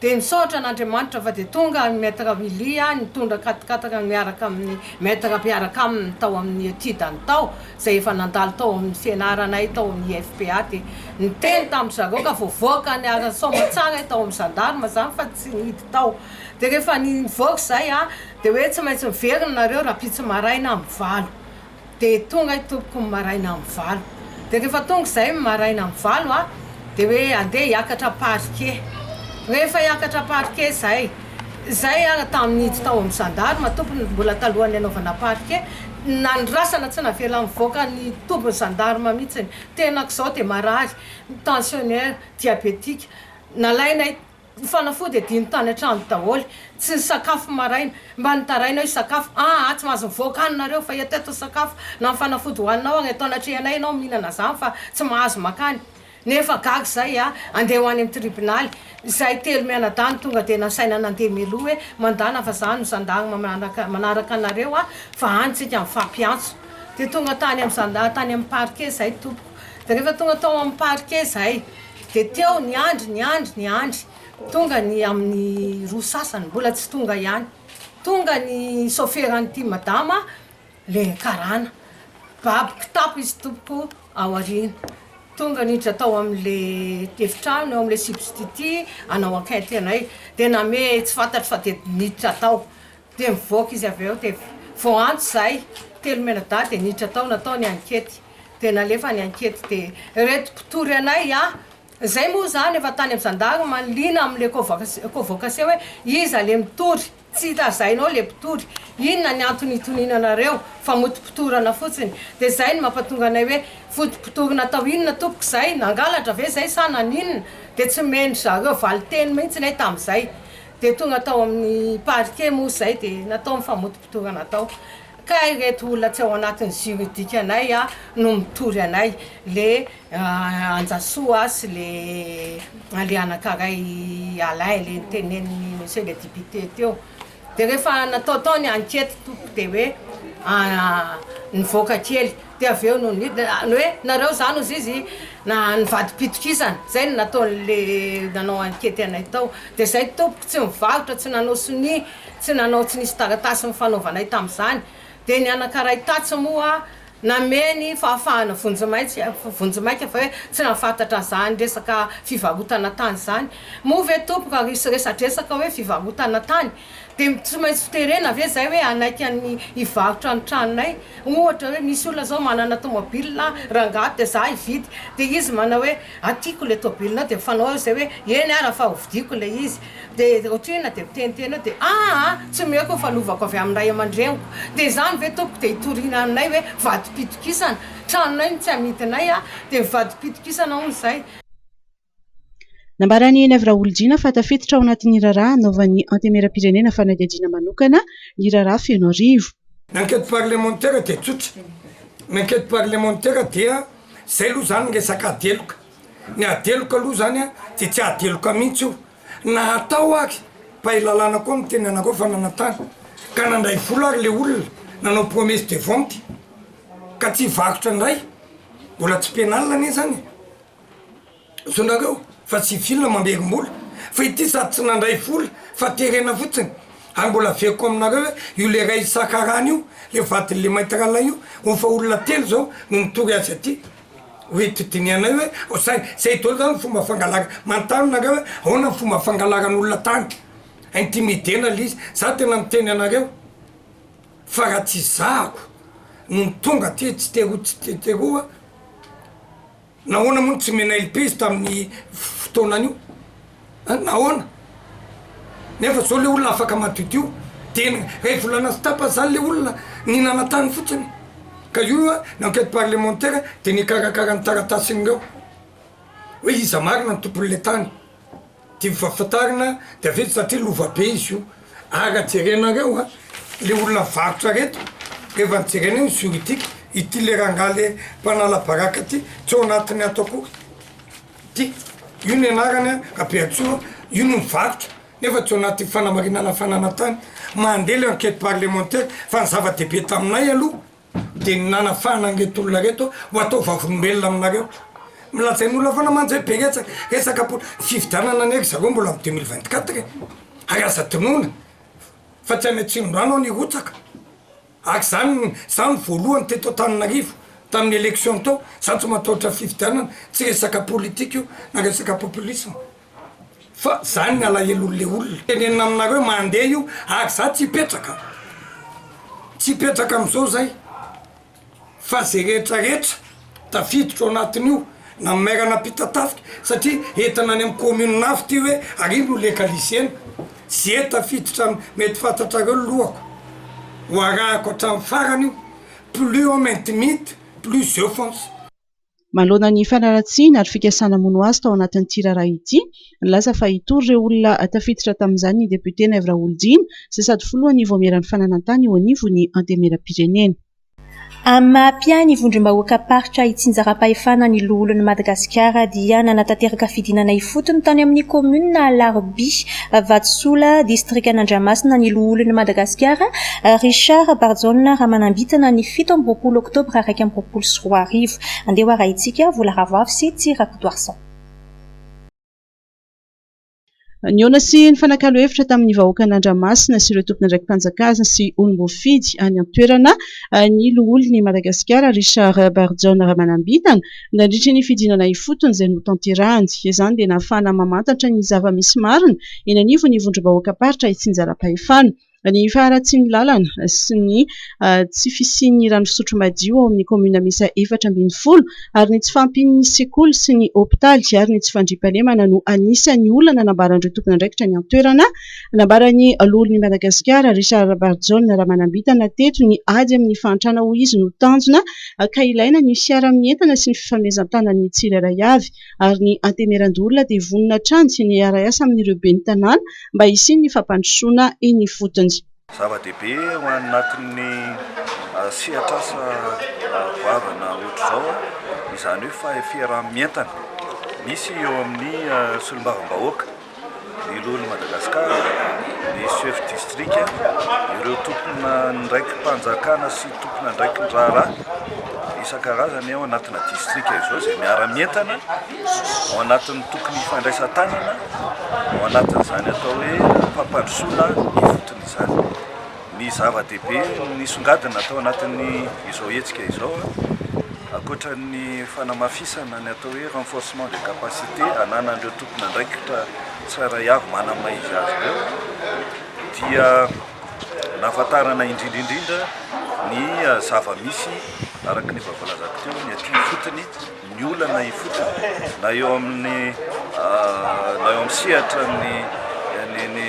Dia nisaotra an' Andriamanitra fa dia tonga any Maître Willia nitondra katikatikany miaraka amin'ny Maître mpiaraka aminy tao amin'ny etide-ny tao, izay efa nandalo tao amin'ny fianaranay tao amin'ny IFPA, dia niteny tamin-dry zareo ka voavoaka any Soamantsara tao amin'ny gendarme izany fa tsy nihidy tao. Dia rehefa nivoaka izay dia hoe tsy maintsy miverina nareo rahampitso maraina amin'ny valo. Dia tonga i tompoko ny maraina amin'ny valo. Dia rehefa tonga izahay ny maraina amin'ny valo dia hoe andeha hiakatra parquet. Rehefa hiakatra parquet izahay, izahay ary tamin'ny nidy tao amin'ny gendarme tompony mbola talohan'ny hanaovana parquet, nandrasana tsy navela nivoaka ny tobin'ny gendarme mihitsy ny tenako izao dia marary, ny tensionnaire, diabetique. Nalainay. Ny fanafody adino tany an-trano daholo. Tsy nisakafo maraina. Mba nitaraina aho hisakafo. Ah ah, tsy mahazo mivoaka any nareo fa eto eto ny sakafo. Na ny fanafody hohaninao agny eto anatrehanay ianao mihinana zany fa tsy mahazo makany. Nefa gaga zay ah. Andeha ho any amin'ny tribonaly. Izahay telo mianadahy no tonga dia nasaina nandeha mialoha hoe mandana fa za no zandary mamanaraka manaraka anareo ah fa any tsika mifampiantso. Dia tonga tany amin'ny zandary tany amin'ny parquet zahay tompoko. Dia rehefa tonga tao amin'ny parquet zahay. Dia teo niandry, niandry, niandry. Tonga ny amin'ny roa sasany, mbola tsy tonga ihany. Tonga ny soferan'ity madama, le karana. Babo kitapo izy tompoko ao aoriana. Tonga niditra tao amin'le efitrano, eo amin'le substitut hanao enquête anay. Dia namehy tsy fantatro fa dia niditra tao. Dia nivoaka izy avy eo dia vao antso izay, telo mianadahy dia niditra tao natao ny ankety. Dia nalefa ny ankety dia ireto mpitory anay a! izay moa izany efa tany amin'ny zandary manliana amin'ilay convocation convocation hoe iza ilay mitory, tsy hita hazainao ilay mpitory, inona ny antony hitoniana anareo fa motom-pitorana fotsiny. Dia izay no mampatonga anay hoe foto-mpitory natao inona tompoko izay, nangalatra ve izay sa naninona? Dia tsy nomen-dry zareo valin-teny mihitsy ilay tamin'izay. Dia tonga tao amin'ny parquet moa izay dia natao ny famotopotorana tao ka ireto olona tsy ao anatin'ny juridikanay no mitory anay, le Anjasoa sy le le anankaray Alain le nitenenin'ny monsieur le député teo. Dia rehefa natao tao ny enquête tompoko dia hoe nivoaka kely Dia avy eo no nidina ny hoe, nareo zany ozy izy na nivadi-pitokisana, izay no nataon'le nanao ankety anay tao, dia izay tompoko tsy nivarotra, tsy nanao sonia, tsy nanao tsy nisy taratasy nifanaovanay tamin'izany, dia ny anankaray tatsy moa nanome ny fahafahana vonjimaika, vonjimaika fa hoe tsy nahafantatra an'izany resaka fivarotana tany izany, moa ve tompoko ary hiresadresaka hoe fivarotana tany? De tsy maintsy ho terena ve zay hoe hanaiky an'ny hivarotra ny tranonay? Ohatra hoe misy olona zao manana tomobilina, rangahy de za hividy, de izy manao hoe atiko le tobilinao de fanao aho zay hoe eny ara fa hovidiako le izy, de otrina de miteniteny eo de aa tsy omeko ny fanovako avy amin'ny ray aman-dreniko, de zany ve tompoko de hitoriana aminay hoe vadim-pitokisana? Tranonay no tsy amidinay a, de vadim-pitokisana hono zay. Nambaran'i Henivy Raholdina fa tafiditra ao anatin'ny raharaha hanaovan'ny Antenimierampirenena fanadihadiana manokana ny raharaha Fenoarivo. Ny enquête parlementaire dia tsotra, ny enquête parlementaire dia zay aloha zany resaka adeloka, ny adeloka aloha zany a de tsy adeloka mihitsy io na atao ary, mpahay lalàna koa miteny anareo fa nanantara ka nandray vola ary le olona nanao promesse de vente ka tsy hivarotra indray, mbola tsy pénal anie zany e! Zonareo fa tsy fil mamerimbola fa ity sady tsy nandray vola fa terena fotsiny ary mbola averiko aminareo hoe io le ray isaka rana io le vadin'le maître Alain io ho fa olona telo zao no mitory azy aty hoe eto dinihanay hoe zay zay dolo zany fomba fangalarana manontany nareo hoe ahoana ny fomba fangalaran'olona tany intimidena le izy za tena miteny anareo fa raha tsy zahako no tonga aty tsy te roa tsy te roa Nahoana moa no tsy omena LP izy tamin'ny fotoanan'io an? Nahoana? Nefa zao le olona afaka madiodio tena, ray volana sy tapany zany le olona nihinana tany fotsiny ka io an ny enquete parlementaire de nikarakara ny taratasin'ireo hoe iza marina ny tompon'le tany. Tiako fahafantarana dia avy eto satria lova be izy io ary raha jerenareo a le olona mivarotra reto rehefa jerena eo ny juridique ity le rangahy le mpanala baraka ty tsy ao anatiny ato akory ty io ny anarany a Rabeantsoa io no mivarotra nefa tsy ao anaty fanamarinana fananantany mandeha le enquete parlementaire fa ny zava-dehibe taminay aloha Dia ny nanafahana an'ireto olona ireto ho atao vavolombelona aminareo. Milazain'ny olona foana mantsy hoe betsaka resaka po. Ny fifidianana anie ry zareo mbola amin'ny deux mille vingt quatre e! Ary aza adinoina fa tsy any Atsimondrano aho nirotsaka. Ary izany izaho no voalohany teto Antananarivo tamin'ny élection teo. Izaho tsy matahotra fifidianana, tsy resaka politique io na resaka populisme. Fa zany ny alahelon le olona tenenina aminareo mande io ary za tsy hipetraka tsy hipetraka amzao zay fa ze rehetra rehetra tafiditra ao anatin'io na maire nampitatafika satria entina any am commune avy ty hoe ary iny no legalisena ze tafiditra am mety fantatrareo ny lohako ho arahako hatram farany io plus on maintimite plus je fonce. Manoloana ny fanaratsiana ary fikasana hamono azy tao anatin'ity raharaha ity, nilaza fa hitory ireo olona tafiditra tamin'izany ny depiote Naivo Raholdina izay sady filohan'ny Vaomieran'ny fananantany eo anivon'ny Antenimierampirenena. Amin'ny maha mpiahy ny vondrom-bahoakam-paritra itsinjaram-pahefana ny Loholon'i Madagasikara dia nanatanteraka fidinana ifotony tany amin'ny kaominina Alarobia, Vatosola, distrikan'Andramasina ny Loholon'i Madagasikara, Richard Barijaona Ramanambitana ny fito amby roapolo oktobra iraika amby roapolo sy roa arivo. Andeha ho arahintsika Vola Ravoavo sy Tsy Rakotoarison. Nihaona sy nifanakalo hevitra tamin'ny vahoakan'Andramasina sy ireo tompon'andraiki-panjakana sy olom-boafidy any an-toerana ny Loholon'i Madagasikara, Richard Barijaona Ramanambitana, Nandritra ny fidinana ifotony izay notanterahany. Izany dia nahafahana mamantatra ny zava-misy marina eny anivon'ny vondrom-bahoakam-paritra itsinjaram-pahefana, ny faharatsian'ny lalana sy ny tsy fisian'ny rano fisotro madio ao amin'ny kaominina miisa efatra ambin'ny folo ary ny tsy fahampian'ny sekoly sy ny hopitaly ary ny tsy fandriampahalemana no anisan'ny olana nambaran'ireo tompon'andraikitra any an-toerana Nambaran'ny Loholon'i Madagasikara, Richard Rabarijaona Ramanambitana teto ny ady amin'ny fahantrana hoy izy no tanjona ka ilaina ny fiaraha-mientana sy ny fifamezan-tanan'ny tsirairay avy ary ny Antemeran-doholona dia vonona hatrany ny hiara-hiasa amin'ireo ben'ny tanàna mba hisian'ny fampandrosoana eny ifotony. Zava-dehibe ho anatin'ny sehatr'asa goavana ohatr'izao izany hoe faheferam-mientana misy eo amin'ny solombavambahoaka, ny lohan'i Madagasikara, ny chefs districts, ireo tompon'andraiki-panjakana sy tompon'andraikin-draharaha isan-karazany ao anatina distrika izao izay miara-mientana. ao anatin'ny tokony hifandraisan-tanana ao anatin'izany atao hoe fampandrosoana ifotony izany. Ny zava-dehibe nisongadina atao anatin'ny izao hetsika izao ankoatra ny fanamafisana ny atao hoe renforcement de capacité ananan'ireo tompon'andraikitra tsirairay avy manana maha izy azy ireo dia nahafantarana indrindra indrindra ny zava-misy araka ny efa voalazako teo ny aty ifotony ny olana ifotony na eo amin'ny na eo amin'ny sehatran'ny ny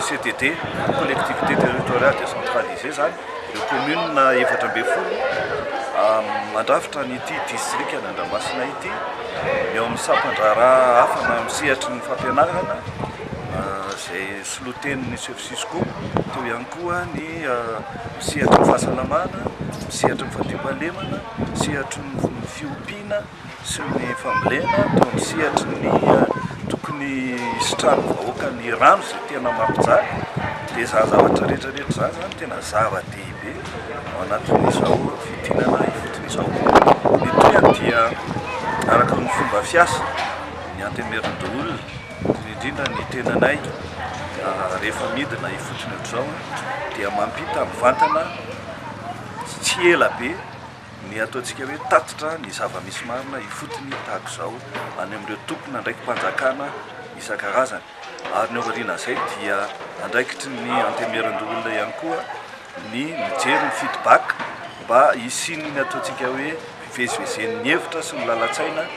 CTD, collectivité territoriale décentralisée, izany ireo commune efatra ambin'ny folo mandrafitra an'ity distrika ny Andramasina ity ny eo amin'ny sampan-draharaha hafa na amin'ny sehatry ny fampianarana izay solotenin'ny chef Cisco toy ihany koa ny sehatry ny fahasalamana, sehatry ny fandriampahalemana Sehatry ny fiompiana sy ny fambolena toa ny sehatry ny tokony hisitrahan'ny vahoaka ny rano izay tena mampijaly dia izany zavatra rehetra rehetra izany izany tena zava-dehibe ao anatin'izao fiodinana ifotony izao. Ny tohiny dia araka ny fomba fiasa ny antemerindoholona indrindra indrindra ny tenanay rehefa midina ifotony ohatr'izao dia mampita mivantana Tsy ela be, ny ataontsika hoe tatitra ny zava-misy marina ifotony tahaka izao any amin'ireo tompon'andraiki-panjakana isan-karazany. Ary ny ao aorianan'izay dia andraikitry ny Antenimierandoholona ihany koa ny mijery ny feedback mba hisian'ny ataontsika hoe fivezivezen'ny hevitra sy ny lalan-tsaina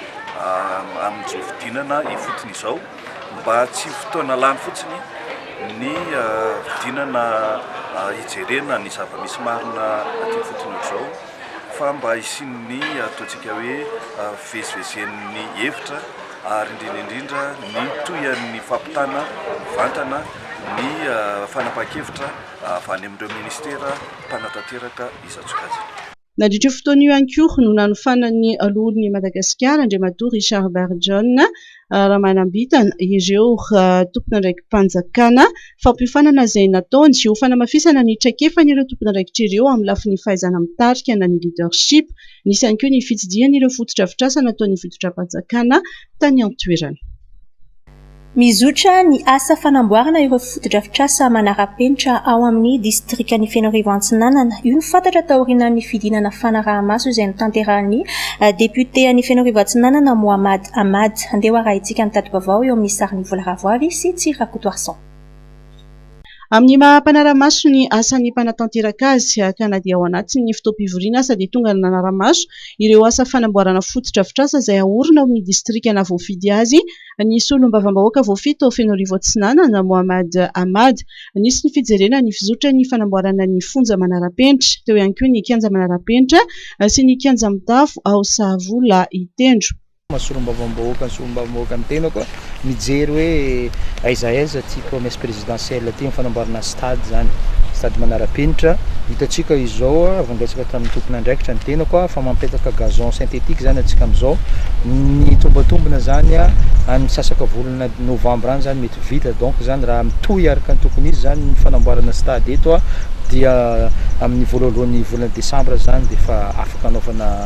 amin'izao fidinana ifotony izao. Mba tsy ho fotoana lany fotsiny ny fidina na hijerena ny zava-misy marina aty ifotony aotr'izao fa mba hisian'ny ataontsika hoe fivezivezen'ny hevitra ary indrindra indrindra ny tohin'ny fampitana mivantana ny fanapahan-kevitra avy any amin'ireo minisitera mpanatanteraka izan-tsokajiny. Nandritra io fotoana io ihany koa no nanofanan'ny Loholon'i Madagasikara, Andriamatoa Richard Barijaona Ramanambitana, ireo tompon'andraiki-panjakana fampiofanana izay nataony ho fanamafisana ny traikefan'ireo tompon'andraikitra ireo amin'ny lafiny fahaizana mitarika na ny leadership. Nisy ihany koa ny fitsidihana ireo fotodrafitrasa nataon'ny fitondram-panjakana tany an-toerana. Mizotra ny asa fanamboarana ireo fotodrafitrasa manara-penitra ao amin'ny distrikan'i Fenoarivo Antsinanana. Io no fantatra taorianan'ny fidinana fanaraha-maso izay notanterahin'ny depiote an'i Fenoarivo Atsinanana, Mohamad Ahmad. Andeha ho arahintsika ny tati-baovao eo amin'ny sarin'i Vola Ravoavy sy Tsy Rakotoarison. Amin'ny maha mpanara-maso ny asan'ny mpanatanteraka azy, ka na dia ao anatin'ny fotoam-pivoriana aza dia tonga ny nanara-maso ireo asa fanamboarana fotodrafitrasa izay haorina ao amin'ny distrika nahavoafidy azy ny solombavambahoaka voafito Fenoarivo Atsinanana Mohamad Ahmad. Nisy ny fijerena ny fizotry ny fanamboarana ny fonja manara-penitra, teo ihany koa ny kianja manara-penitra sy ny kianja mitafo ao Sahavola Itendro. Maha solombavambahoaka ny solombavambahoaka ny tenako mijery hoe aiza aiza ty promesse présidentielle ty ny fanamboarana stade zany stade manarapenitra hitantsika izao avy niresaka tamin'ny tompon'andraikitra ny tenako fa mampetaka gazon synthétique zany atsika amizao ny tombatombina zany any misasaka volana novembre any zany mety vita donc zany raha mitohy araka ny tokony izy zany ny fanamboarana stade eto dia amin'ny voalohan'ny volana décembre zany dia efa afaka anaovana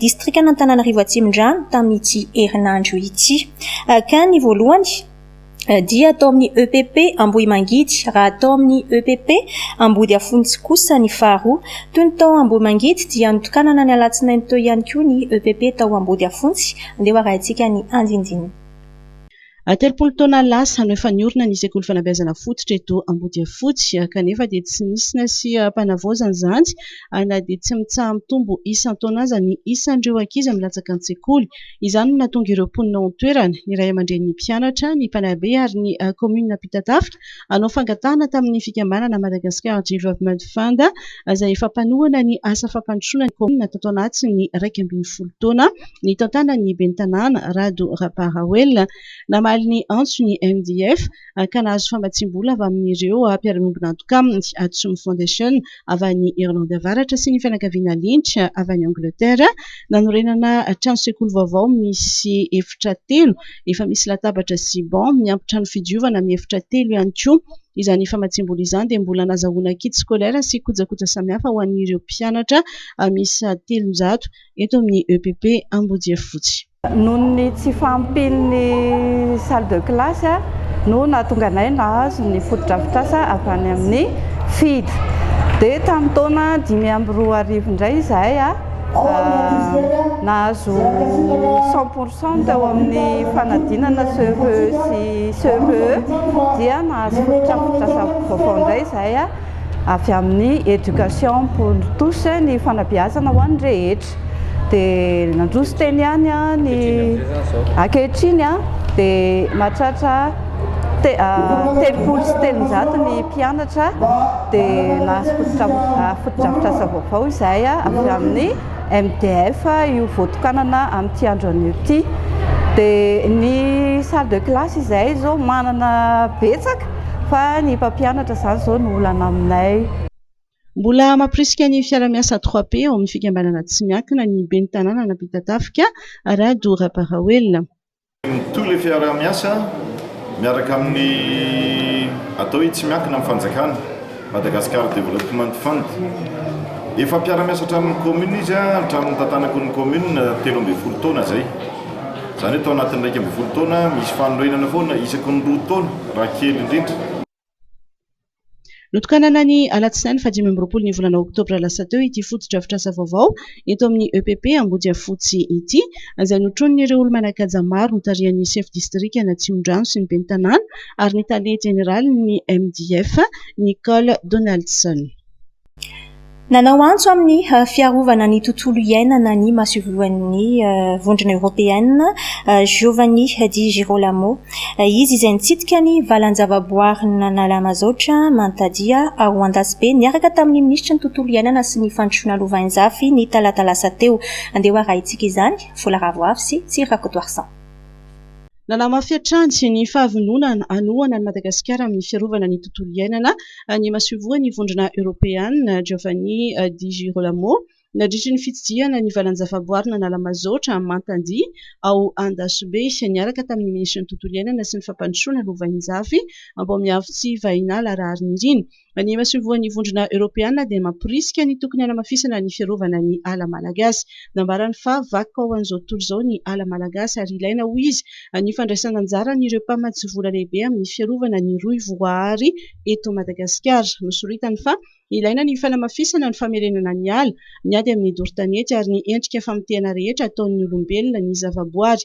distrikan'Antananarivo Atsimondrano tamin'ity herinandro ity. Ka ny voalohany dia tao amin'ny EPP Ambohimangidy raha tao amin'ny EPP Ambodiafontsy kosa ny faharoa. Toy ny tao Ambohimangidy dia notokanana ny alatsinainy teo ihany koa ny EPP tao Ambodiafontsy. Andeha ho arahintsika ny andinindininy. Telopolo taona lasa no efa niorina ny sekoly fanabeazana fototra eto Ambodiafotsy, kanefa dia tsy nisy na sy mpanavaozana izany na dia tsy mitsaha-mitombo isan-taona aza ny isan'ireo ankizy milatsaka an-tsekoly. Izany no nahatonga ireo mponina ao an-toerana, ny ray aman-drenin'ny mpianatra, ny mpanabe ary ny kaominina mpitatafika, hanao fangatahana tamin'ny fikambanana Madagascar Development Fund izay efa mpanohana ny asa fampandrosoana ny kaominina tato anatin'ny iraika ambin'ny folo taona nitantanan'ny ben'ny tanàna Rado Raparawelina. Namaly ny antso ny MDF ka nahazo famatsiam-bola avy amin'ireo mpiara-miombon'antoka aminy, Atsom Foundation, avy any Irlandy Avaratra sy ny fianakaviana Lynch avy any Angletera, nanorenana trano sekoly vaovao misy efitra telo, efa misy latabatra sy banc, miampy trano fidiovana miefitra telo ihany koa. Izany famatsiam-bola izany dia mbola nazahoana kit scolaire sy kojakoja samihafa ho an'ireo mpianatra miisa telonjato eto amin'ny EPP Ambodiafotsy. Noho ny tsy fahampian'ny salle de classe no nahatonga anay nahazo ny fotodrafitrasa avy any amin'ny FIDH. Dia tamin'ny taona dimy amby roa arivo indray izahay nahazo cent pour cent teo amin'ny fanadinana CEVE sy CEPE dia nahazo fotodrafitrasa vaovao indray izahay. avy amin'ny éducation pour tous ny fanabeazana ho an'ny rehetra dia nandroso teny ihany ny ankehitriny dia mahatratra telopolo sy telonjato ny mpianatra dia nahazo fotodrafitrasa vaovao izay avy amin'ny MDF io voatokanana amin'ity andro anio ity dia ny salle de classe izay izao manana betsaka fa ny mpampianatra izany izao no olana aminay. Mbola mampirisika ny fiarahamiasa trois P ao amin'ny fikambanana tsy miankina ny ben'ny tanànan'Ampitatafika, Rado Rabaraoelina. Mitohy ilay fiarahamiasa miaraka amin'ny atao hoe tsy miankina amin'ny fanjakana. Madagascar Development Fund. Efa mpiara-miasa hatramin'ny commune izy hatramin'ny nitantanako ny commune telo ambin'ny folo taona izay. Izany hoe tao anatin'ny iraika ambin'ny folo taona misy fanorenana foana isaky ny roa taona raha kely indrindra. Notokanana ny alatsinainy fahadimy amby roapolo ny volana oktobra lasa teo ity fotodrafitrasa vaovao eto amin'ny EPP Ambodiafotsy ity izay notronin'ireo olo-manan-kaja maro notarihan'ny sefo distrikan'Atsimondrano sy ny ben'ny tanàna ary ny tale jeneralin'ny MDF, Nicole Donaldson. Nanao antso amin'ny fiarovana ny tontolo iainana ny masoivohon'ny Vondrona Eoropeana, Giovanni Di Girolamo. Izy izay nitsidika ny valan-javaboarin'Analamazaotra Mantadia ao Andasibe niaraka tamin'ny minisitry ny Tontolo iainana sy ny Fandrosoana Lovainjafy ny talata lasa teo. Andeha ho arahintsika izany, Vola Ravoavy sy Tsir Rakotoarison. Nanamafy hatrany ny fahavononany hanohana an'i Madagasikara amin'ny fiarovana ny tontolo iainana ny masoivohon'ny Vondrona Eoropeana, Giovanni Di Girolamo, nandritry ny fitsidihana ny valan-javaboarina Analamazaotra Mantandia ao Andasibe, niaraka tamin'ny minisitry ny Tontolo iainana sy ny fampandrosoana Lovainjafy Ambomiafitsivahinala Raharinirina. Ny masoivohon'ny Vondrona Eoropeana dia mamporisika ny tokony hanamafisana ny fiarovana ny ala malagasy. Nambarany fa vakoka ho an'izao tontolo izao ny ala malagasy ary ilaina, hoy izy, ny fandraisana anjara an'ireo mpamatsy vola lehibe amin'ny fiarovana ny rohy voaary eto Madagasikara. Nosoritany fa ilaina ny fanamafisana ny famerenana ny ala, ny ady amin'ny doro tanety ary ny endrika famotehana rehetra ataon'ny olombelona ny zavaboary.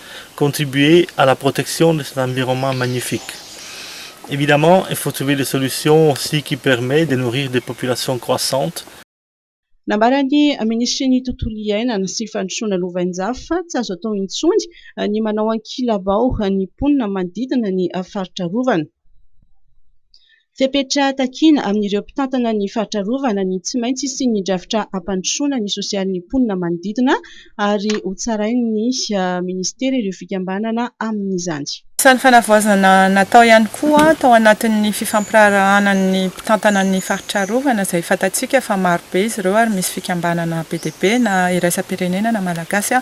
contribuer à la protection de cet environnement magnifique. Evidemment, il faut trouver des solutions aussi qui permet de nourrir des populations croissantes. Nambaran'ny Minisitrin'ny Tontolo iainana sy Fandrosoana Lovainjafy fa tsy azo atao intsony ny manao ankilabao ny mponina manodidina ny faritra arovana. Fepetra takiana amin'ireo mpitantana ny faritra arovana ny tsy maintsy hisian'ny drafitra hampandrosoana ny sosialin'ny mponina manodidina ary hotsarain'ny minisitera ireo fikambanana amin'izany. Sary fanavaozana natao ihany koa tao anatin'ny fifampiraharahana ny mpitantana ny faritra arovana izay fantatsika fa marobe izy ireo ary misy fikambanana be dia be na iraisam-pirenena na malagasy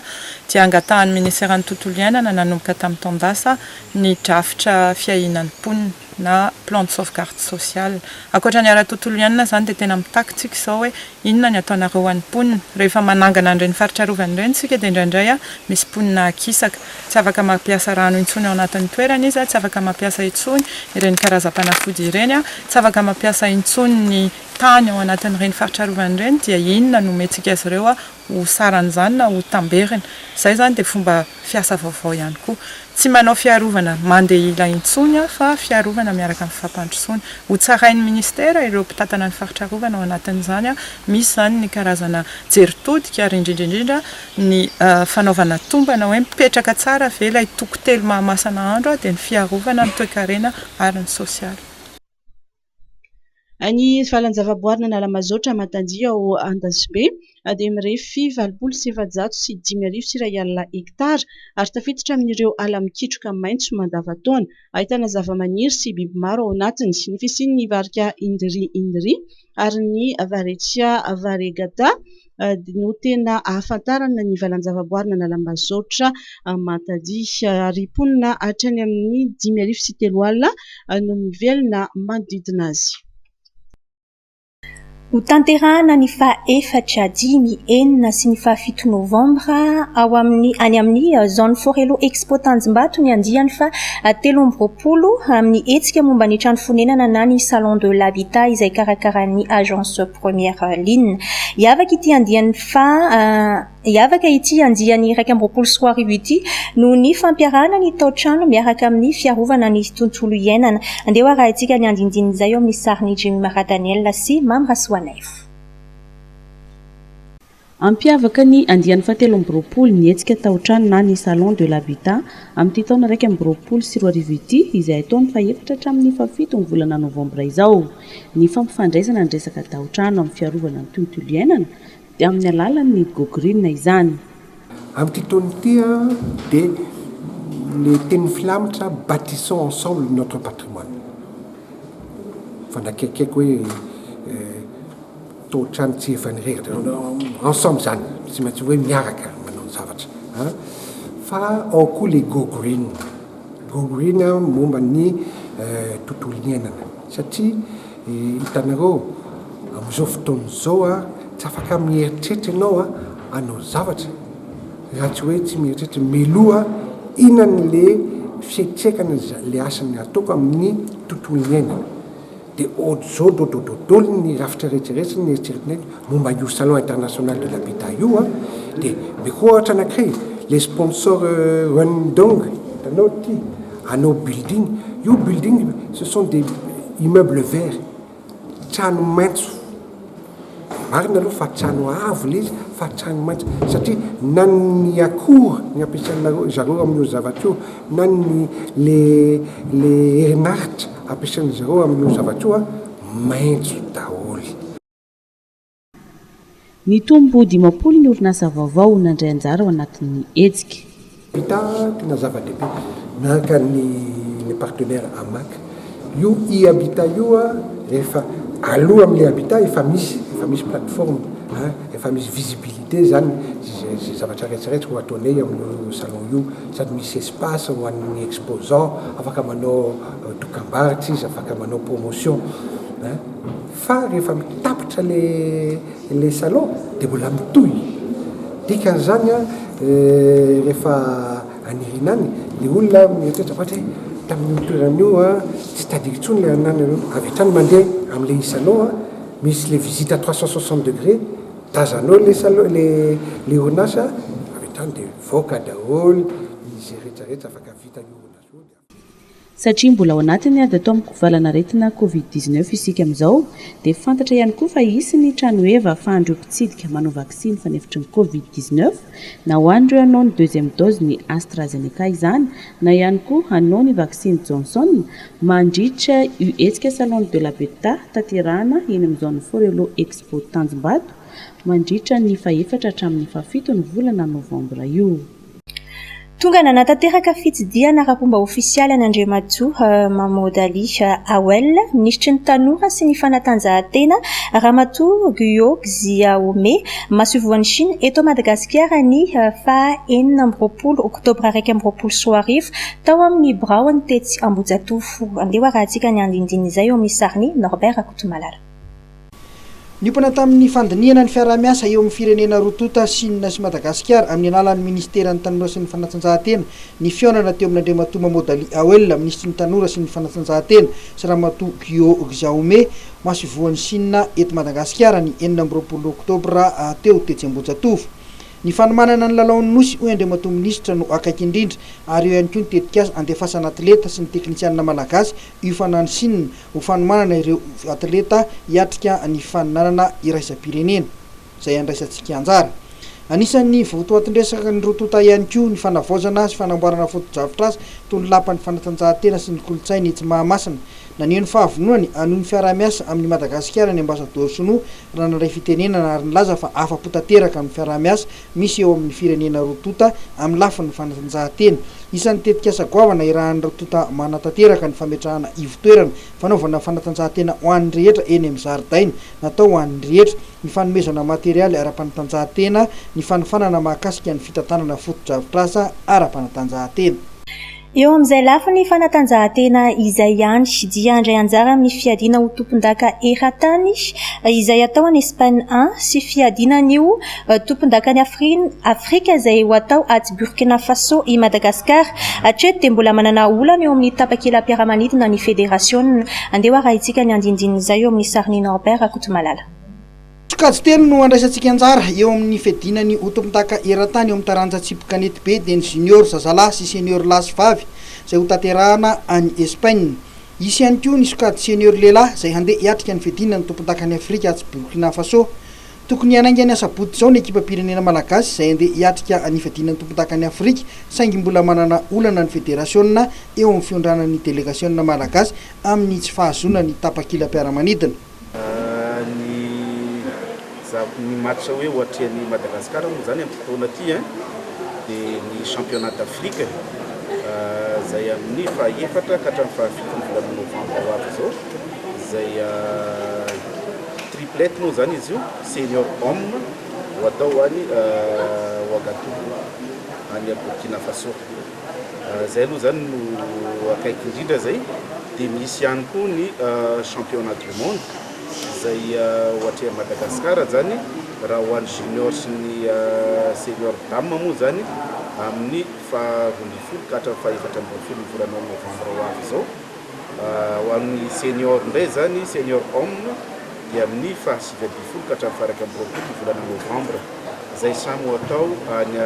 dia angatahan'ny miniseran'ny tontolo iainana nanomboka tamin'ny taon-dasa ny drafitra fiahiana ny mponina. na plan de sauvegarde sociale. Ankoatra ny ara-tontolo iainana izany dia tena mitaky tsika izao hoe inona ny ataonareo ho an'ny mponina. Rehefa manangana an'ireny faritra arovana ireny isika dia indraindray misy mponina akisaka. Tsy afaka mampiasa rano intsony ao anatin'ny toerany izy, tsy afaka mampiasa intsony ireny karazam-panafody ireny, tsy afaka mampiasa intsony ny tany ao anatin'ireny faritra arovana ireny dia inona no omentsika azy ireo ho saran'izany na ho tamberina. Izay izany dia fomba fiasa vaovao ihany koa. Tsy manao fiarovana mandehila intsony aho fa fiarovana miaraka amin'ny fampandrosoana. Ho tsarain'ny Ministera ireo mpitantana ny faritra arovana ao anatin'izany. Misy izany ny karazana jery todika ary indrindra indrindra ny fanaovana tombana hoe mipetraka tsara ve ilay toko telo Mahamasana andro dia ny fiarovana ny toekarena ary ny sosialy. Ny valan-javaboarin' Analamazaotra Amantandria ao Andasibe dia mirefy valopolo sy efajato sy dimy arivo sy iray alina hektara ary tafiditra amin' ireo ala mikitroka maitso mandavan-taona. Ahitana zavamaniry sy biby maro ao anatiny. Ny fisian' ny varika Indri indri ary ny Varecia variegata. no tena ahafantarana ny valan-javaboarin' Analambazaotra Matadi. Ary mponina hatrany amin' ny dimy arivo sy telo alina no mivelona manodidina azy. Hotanterahina ny faha efatra, dimy, enina sy ny faha fito Nôvambra ao amin' ny any amin' ny Zone Forello Expo Tanjombato ny andiany faha telo amby roapolo amin' ny hetsika momba ny trano fonenana na ny Salon de l'Habitat izay karakaran' ny Agence Première ligne. Hiavaka ity andiany faha Hiavaka ity andiany iraika amby roapolo sy roa arivo ity noho ny fampiarahana ny tao-trano miaraka amin'ny fiarovana ny tontolo iainana. Andeha ho arahintsika ny andindinin'izay eo amin'ny sarin'i Jim Radanel sy Mamy Rasoanaivo. Hampiavaka ny andiany fahatelo amby roapolo ny hetsika taotrano na ny Salon de l'Habitat amin'ity taona iraika amby roapolo sy roa arivo ity izay atao ny fahefatra hatramin'ny fahafito ny volana novambra izao ny fampifandraisana ny resaka taotrano amin'ny fiarovana ny tontolo iainana dia amin'ny alalan'ny GoGreen izany. Amin'ity taona ity dia ny tenin'ny filamitra Bâtissons ensemble notre patrimoine. Fa nakaiky aiko hoe. Taotrano tsy efa nirehitra ensemble zany tsy maintsy hoe miaraka manao ny zavatra a! Fa ao koa le go green, go green momba ny tontolo iainana satria hitanareo amin'izao fotoana izao a tsy afaka mieritreritra ianao a hanao zavatra raha tsy hoe tsy mieritreritra mialoha inona le fiatraikan'le asa ataoko amin'ny tontolo iainana. Dia ôdrôdrôdrôdrôdrôly ny rafitra rehetra rehetra sy ny eritreritrinay momba io salon international de l'habitat io an! Dia mihoatra anankiray e! Ilay sponsor Rundong hitanao ity hanao building, io building ce sont des immeubles verts, trano maitso. Marina aloha fa trano avo ilay izy fa trano maitso satria na ny akora ny ampiasainareo zareo amin'io zavatra io na ny le le herinaritra ampiasain-dry zareo amin'io zavatra io a maitso daholo. Nitombo ho dimampolo ny orinasa vaovao nandray anjara ao anatin'ny hetsika. Pita tena zava-dehibe naka ny le partenaire Hamac io e-habitat io a rehefa aloha amle habitat efa misy efa misy plateforme a efa misy visibilité zany ze ze zavatra retsy retsy ho ataonay amio salon io sady misy espace ho an'ny exposant afaka manao dokambarotra izy afaka manao promotion a. Fa rehefa mitapitra ilay salon dia mbola mitohy. Dikan'izany rehefa any Irina any dia olona mieritreritra vatra hoe tamin'io toerana io tsy tadidiko intsony ilay anareo. Avy hatrany mandeha amin'ilay salon misy ilay visite à trois cent soixante degrés, tazanao ilay salon ilay orinasa avy hatrany dia mivoaka daholo izay rehetra rehetra afaka vita io orinasa io. Satria mbola ao anatin'ny ady atao amin-kovalan'aretina covid dix-neuf isika amin'izao, dia fantatra ihany koa fa hisy ny tranoheva ahafahan'ireo mpitsidika manao vaksiny fanefitry ny covid dix-neuf, na ho an'ireo hanao ny deuxième dose ny AstraZeneca izany, na ihany koa hanao ny vaksiny Johnson, mandritra io hetsika Salon de la Beta tanterahana eny amin'ny zone Forello Expo Tanjombato, mandritra ny fahefatra hatramin'ny fahafito ny volana novambra io. Tonga nanatanteraka fitsidihana ara-pomba ofisialy an'Andriamatoa Mahmoud Ali Awel, Minisitry ny Tanora sy ny Fanatanjahantena, Ramatoa Guo Xiaomei, Masoivohon'i Shina eto Madagasikara ny faha enina amby roapolo oktobra iraika amby roapolo sy roa arivo tao amin'ny biraony tetsy Ambohijatovo. Andeha ho arahintsika ny andinindininy izay eo amin'ny sarin'i Norbert Rakotomalala. Niompana tamin'ny fandinihana ny fiaraha-miasa eo amin'ny firenena roa tonta, Sina sy Madagasikara, amin'ny alalan'ny Ministeran'ny Tanora sy ny Fanatanjahantena, ny fihaonana teo amin'Andriamatoa Mamodali Awel, Minisitry ny Tanora sy ny Fanatanjahantena, sy Ramatoa Guo Xiaomei, Masoivohon'i Sina eto Madagasikara, ny enina amby roapolo Oktobra teo, tetsy Ambohijatovo. Ny fanomanana ny lalaon'ny Nosy, hoy Andriamatoa Minisitra, no akaiky indrindra, ary eo ihany koa ny tetikasa handefasana atleta sy ny teknisianina malagasy Io fanan'i Shina ho fanomanana ireo atleta hiatrika ny faninanana iraisam-pirenena izay andraisantsika anjara. Anisan'ny votoatin-dresak'ny roa tonta ihany koa ny fanavaozana sy fanamboarana fotodrafitrasa toy ny lapan'ny fanatanjahantena sy ny kolontsaina etsy Mahamasina. Naneho ny fahavononany hanohy ny fiaraha-miasa amin'i Madagasikara ny Ambasadaoro Shinoa raha nandray fitenenana ary nilaza fa afa-po tanteraka amin'ny fiaraha-miasa misy eo amin'ny firenena roa tonta amin'ny lafiny fanatanjahantena. Isan'ny tetikasa goavana irahan'ireo tonta manatanteraka ny fametrahana ivon-toerana fanaovana fanatanjahantena ho an'ny rehetra eny amin'ny zaridaina natao ho an'ny rehetra, ny fanomezana materialy ara-panatanjahantena, ny fanofanana mahakasika ny fitantanana fotodrafitrasa ara-panatanjahantena. Eo amin'izay lafiny fanatanjahantena izay ihany dia handray anjara amin'ny fiadiana ho tompondaka eran-tany izay atao any Espaina an, sy fiadiana an'io tompondakan'i Afrina, Afrika, izay ho atao atsy Burkina Faso i Madagasikara. Hatreto dia mbola manana olana eo amin'ny tapakelam-piaramanidina ny federasiona. Andeha ho arahintsika ny andinindin'izay eo amin'ny sarin'i Norbert Rakotomalala. Sokajy telo no handraisantsika anjara eo amin'ny fiadiana ny ho tompon-daka eran-tany eo amin'ny taranja tsipy kanety be dia ny Junior zazalahy sy Senior lahy sy vavy izay hotanterahana any Espaina. Hisy ihany koa ny sokajy Senior lehilahy izay handeha hiatrika ny fiadiana ny tompon-dakan'i Afrika atsy Burkina Faso. Tokony hanainga ny asabotsy izao ny ekipam-pirenena malagasy izay handeha hiatrika ny fiadiana ny tompon-dakan'i Afrika saingy mbola manana olana ny federasiona eo amin'ny fiondranan'ny delegasiona malagasy amin'ny tsy fahazoana ny tapakilam-piaramanidina. Ny zava- ny match hoe ohatrean'i Madagascar moa zany amin'ity taona ity an, dia ny championnat d'Afrique izay amin'ny faha-efatra ka hatramin'ny faha-fito ny volana novambra ho avy izao, izay triplet moa zany izy io, senior hommes ho atao any Ouagadougou any Burkina Faso. Izay aloha izany no akaiky indrindra izay. Dia misy ihany koa ny championnat du monde izay ho atrehin'i Madagasikara izany raha ho an'ny junior sy ny senior dames moa izany amin'ny faharoa ambin'ny folo ka hatramin'ny fahefatra ambin'ny folon'ny volana novambra ho avy izao. Ho an'ny senior indray izany, senior homme, dia amin'ny faha sivy ambin'ny folo ka hatramin'ny faha iraika amby roapolo ny volana novambra. Izay samy ho atao any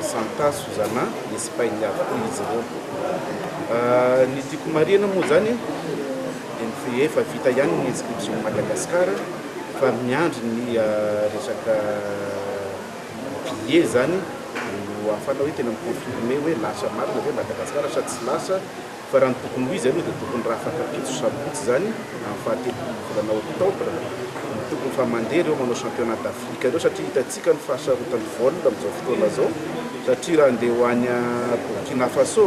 Santa Susana, Espagne avokoa izy ireo. Ny tiako marihina moa izany dia ny efa vita ihany ny inscription an'i Madagasikara fa miandry ny resaka billet izany no ahafahana hoe tena mi-confirmer hoe lasa marina ve Madagasikara sa tsy lasa. Fa raha ny tokony ho izy aloha dia tokony rafaka pitsy sabotsy izany amin'ny fahatelopolo volana octobre no tokony efa mandeha ireo manao championnat d'Afrique ireo satria hitantsika ny fahasarotan'ny vol amin'izao fotoana izao satria raha andeha ho any Burkina Faso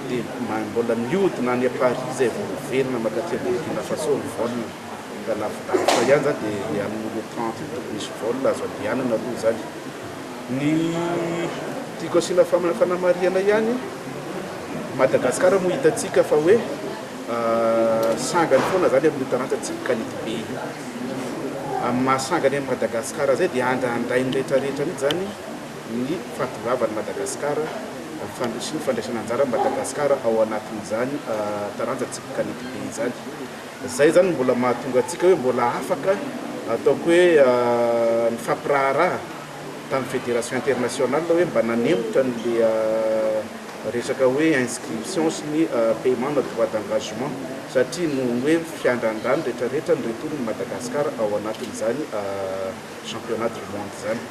dia mbola mihodina any Paris izay vao miverina mankaty Burkina Faso ny vol ka lavidavitra ihany izany dia amin'ny le trente io tokony hisy vol azo andehanana aloha izany. Ny tiako asiana fanamarihana ihany, Madagasikara moa hitantsika fa hoe sangany foana zany amin'io taranja tsy mikality be io. Amin'ny maha sangany an'i Madagasikara zay dia andrandrain'ny rehetra rehetra mihitsy zany ny fahatongavan'i Madagasikara, sy ny fandraisana anjaran'i Madagasikara ao anatin'izany taranja tsy mikality be izany. Zay zany no mbola mahatonga antsika hoe mbola afaka ataoko hoe mifampiraharaha. tamin'ny Fédération internationale hoe mba nanemotra an'ilay resaka hoe inscription sy ny paiement na droit d'engagement satria noho ny hoe fiandrandrany retraretra ny retour-n'i Madagascar ao anatin'izany championnat du monde izany.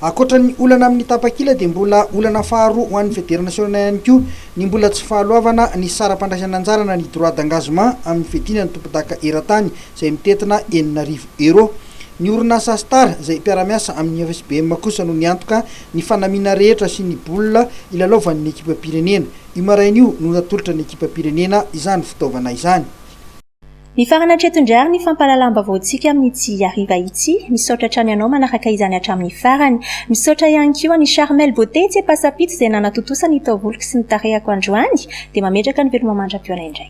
Ankoatra ny olana amin'ny tapakila dia mbola olana faharoa ho an'ny Federasiona ihany koa ny mbola tsy fahaloavana ny saram-pandraisan'anjara na ny droit d'engagement amin'ny fiadiana ny tompondaka eran-tany izay mitentina enina arivo Euro. Ny orinasa Astar izay mpiara-miasa amin'ny FSBM kosa no niantoka ny fanamiana rehetra sy ny baolina hilalaovan'ny ekipam-pirenena. Io maraina io no natolotra ny ekipam-pirenena izany fitaovana izany. Mifarana hatreto indray ary ny fampahalalam-baovaontsika amin'ny tsy hariva ity. Misaotra hatrany anao manaraka izany hatramin'ny farany. Misaotra ihany koa an'i Charmel Beauté tsy ampasapito izay nanatontosa ny taovoloko sy ny tarehako androany. Dia mametraka ny veloma mandra-pihaona indray.